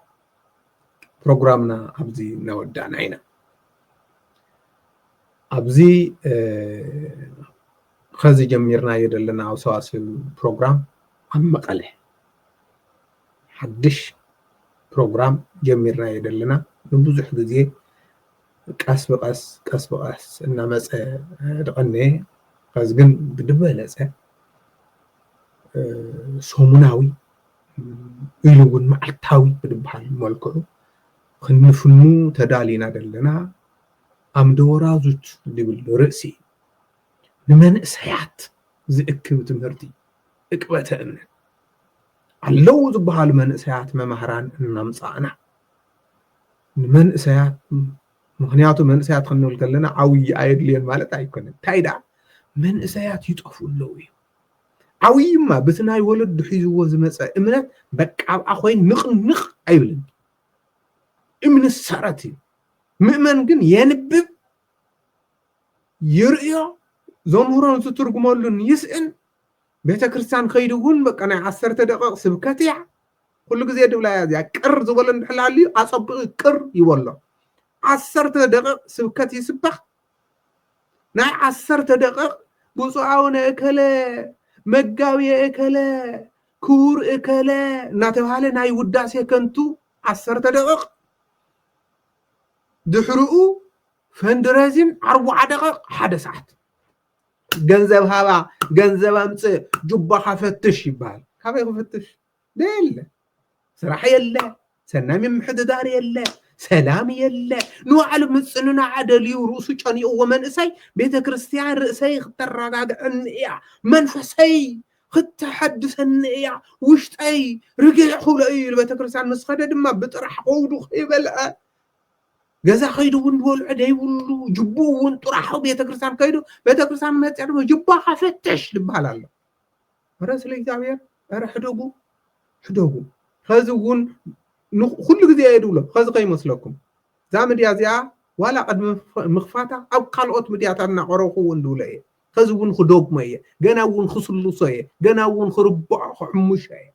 ፕሮግራምና ኣብዚ እናወዳእና ኢና ኣብዚ ኸዚ ጀሚርናዮ ዘለና ኣውሰዋስን ፕሮግራም ኣብ መቐለ ሓድሽ ፕሮግራም ጀሚርናዮ ዘለና ንብዙሕ ግዜ ቀስ ብቐስ ቀስ ብቐስ እናመፀ ድቐነየ ኸዚ ግን ብድበለፀ ሰሙናዊ ኢሉ እውን መዓልታዊ ብድበሃል መልክዑ ክንፍኑ ተዳሊና ዘለና ኣምደወራዙት ዝብል ርእሲ ንመንእሰያት ዝእክብ ትምህርቲ እቅበተ እምነት ኣለዉ ዝበሃሉ መንእሰያት መማህራን እናምፃእና ንመንእሰያት ምክንያቱ መንእሰያት ክንብል ከለና ዓብዪ ኣየድልዮን ማለት ኣይኮነን እንታይ ደኣ መንእሰያት ይጠፍኡ ኣለዉ እዩ ዓብዪማ በቲ ናይ ወለዱ ሒዝዎ ዝመፀ እምነት በቃ ኣብኣ ኮይኑ ንቕንቕ ኣይብልን እምነት ሰረት እዩ ምእመን ግን የንብብ ይርእዮ ዘምህሮን ዝትርጉመሉን ይስእን ቤተ ክርስቲያን ከይዱ እውን በቃ ናይ ዓሰርተ ደቂቕ ስብከት እያ ኩሉ ግዜ ድብላ እያ እዚኣ ቅር ዝበሎ እንድሕላ ኣልዩ ኣፀብቂ ቅር ይበሎ ዓሰርተ ደቂቕ ስብከት ይስበኽ ናይ ዓሰርተ ደቂቕ ብፁዕ ኣቡነ እከለ መጋቢ እከለ ክቡር እከለ እናተባሃለ ናይ ውዳሴ ከንቱ ዓሰርተ ደቂቕ ድሕርኡ ፈንድሬዚን ኣርባዓ ደቂቕ ሓደ ሰዓት ገንዘብ ሃባ ገንዘብ ኣምፅእ ጁባኻ ፈትሽ ይበሃል ካበይ ክፍትሽ የለ ስራሕ የለ ሰናይ ምምሕድዳር የለ ሰላም የለ ንባዕሉ ምፅንናዕ ደልዩ ርእሱ ጨኒቕዎ መንእሰይ ቤተ ክርስትያን ርእሰይ ክተረጋግዐኒ እያ መንፈሰይ ክተሐድሰኒ እያ ውሽጠይ ርግዕ ክብሎ እዩ ቤተ ክርስትያን ምስ ኸደ ድማ ብጥራሕ ከውዱ ከይበልዐ ገዛ ከይዱ እውን ዝበልዖ ዘይብሉ ጅቡ እውን ጥራሑ ቤተክርስትያን ከይዱ ቤተክርስትያን መፅያ ድማ ጅባኻ ፈትሽ ዝበሃል ኣሎ እረ ስለ እግዚኣብሔር እረ ሕደጉ ሕደጉ ከዚ እውን ኩሉ ግዜ እየ ድብሎ ከዚ ከይመስለኩም እዛ ምድያ እዚኣ ዋላ ቅድሚ ምኽፋታ ኣብ ካልኦት ምድያታት እናቀረብኩ እውን ድብሎ እየ ከዚ እውን ክደግሞ እየ ገና እውን ክስልሶ እየ ገና እውን ክርብዖ ክሕምሾ እየ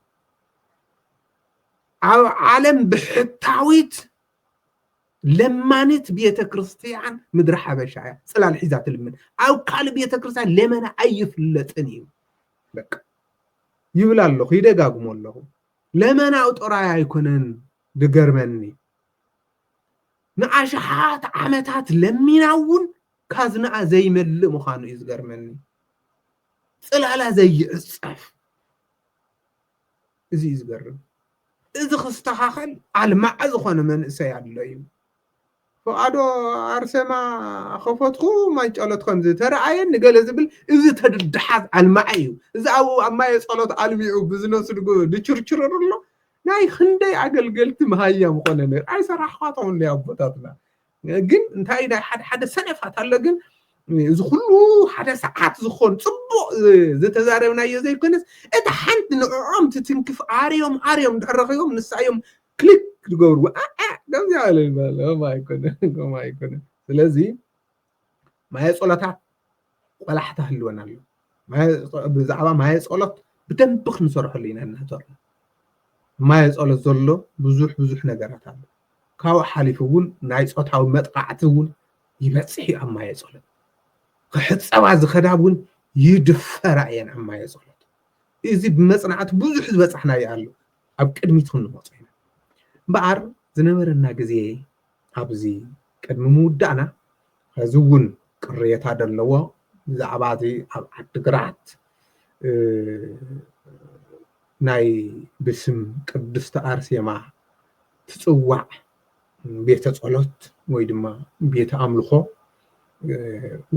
ኣብ ዓለም ብሕታዊት ለማኒት ቤተ ክርስትያን ምድረ ሓበሻ እያ ፅላል ሒዛ ትልምን ኣብ ካልእ ቤተ ክርስትያን ለመና ኣይፍለጥን እዩ በቃ ይብል ኣለኹ ይደጋግሞ ኣለኹ ለመናኡ ጥራይ ኣይኮነን ዝገርመኒ ንኣሽሓት ዓመታት ለሚና እውን ካዝናኣ ዘይመልእ ምዃኑ እዩ ዝገርመኒ ፅላላ ዘይዕፀፍ እዚ እዩ ዝገርም እዚ ክስተኻኸል ኣልማዕ ዝኾነ መንእሰይ ኣሎ እዩ ፍቓዶ ኣርሴማ ከፈትኩ ማይ ጨሎት ከምዚ ተረኣየን ንገለ ዝብል እዚ ተድድሓት ኣልማዕ እዩ እዚ ኣብኡ ኣብ ማየ ጸሎት ኣልሚዑ ብዝነሱ ድችርችርር ኣሎ ናይ ክንደይ ኣገልገልቲ መሃያ ምኾነ ነር ኣይሰራሕኳቶም እንደ ኣቦታትና ግን እንታይ ናይ ሓደ ሓደ ሰነፋት ኣሎ ግን እዚ ኩሉ ሓደ ሰዓት ዝኾን ፅቡቕ ዝተዛረብናዮ ዘይኮነስ እታ ሓንቲ ንዕኦም ትትንክፍ ኣርዮም ኣርዮም ድሕር ረኺቦም ንሳ እዮም ክሊክ ዝገብርዎ ከምዚኣ በለ ይበለ ከምኡ ኣይኮነ ከምኡ ኣይኮነ ስለዚ ማየ ጸሎታት ቆላሕታ ህልወና ኣሎ ብዛዕባ ማየ ጸሎት ብደንብ ክንሰርሐሉ ኢና እናተርና ማየ ጸሎት ዘሎ ብዙሕ ብዙሕ ነገራት ኣሎ ካብኡ ሓሊፉ እውን ናይ ፆታዊ መጥቃዕቲ እውን ይበፅሕ እዩ ኣብ ማየ ጸሎት ክሕፀባ ዝኸዳ እውን ይድፈራ እየን ኣብ ማየ ጸሎት እዚ ብመፅናዕቲ ብዙሕ ዝበፃሕናዮ ኣሎ ኣብ ቅድሚት ክንመፆ ኢና እምበኣር ዝነበረና ግዜ ኣብዚ ቅድሚ ምውዳእና ሐዚ እውን ቅሬታ ዘለዎ ብዛዕባ እዚ ኣብ ዓዲግራት ናይ ብስም ቅድስቲ ኣርሴማ ትፅዋዕ ቤተ ፀሎት ወይ ድማ ቤተ ኣምልኾ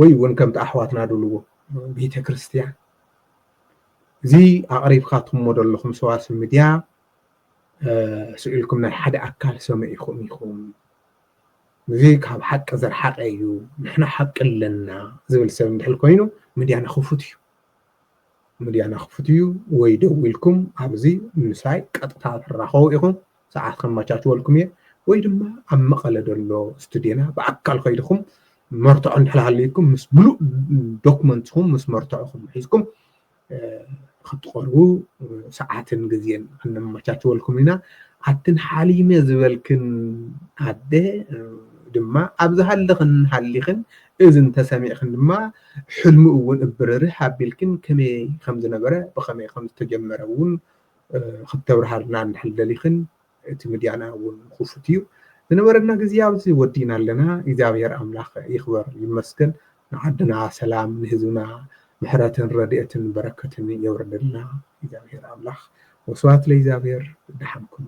ወይ እውን ከምቲ ኣሕዋትና ድልዎ ቤተ ክርስቲያን እዚ ኣቕሪብካትሞ ዘለኹም ሰዋስው ሚድያ ስኢልኩም ናይ ሓደ ኣካል ሰሚዕኹም ኢኹም እዚ ካብ ሓቂ ዝረሓቀ እዩ ንሕና ሓቂ ኣለና ዝብል ሰብ እንድሕር ኮይኑ ምድያና ክፉት እዩ ምድያና ክፉት እዩ ወይ ደው ኢልኩም ኣብዚ ምሳይ ቀጥታ ትራኸቡ ኢኹም ሰዓት ከመቻችወልኩም እየ ወይ ድማ ኣብ መቐለ ዘሎ ስቱድዮና ብኣካል ከይድኹም መርትዖ እንድሕር ሃልዩኩም ምስ ምሉእ ዶክመንትኹም ምስ መርትዕኹም ሒዝኩም ክትቐርቡ ሰዓትን ግዜን ክነመቻችወልኩም ኢና ኣትን ሓሊመ ዝበልክን ኣደ ድማ ኣብ ዝሃለኽን ሃሊኽን እዚ እንተሰሚዕክን ድማ ሕልሙ እውን እብርርህ ኣቢልክን ከመይ ከም ዝነበረ ብኸመይ ከም ዝተጀመረ እውን ክተብርሃልና እንድሕር ደሊኽን እቲ ምድያና እውን ክፉት እዩ ዝነበረና ግዜ ኣብዚ ወዲእና ኣለና እግዚኣብሔር ኣምላክ ይክበር ይመስገን ንዓድና ሰላም ንህዝብና ምሕረትን ረድኤትን በረከትን የውርደልና እግዚኣብሔር ኣምላክ ወስብሐት ለእግዚኣብሔር ደሓን ኩኑ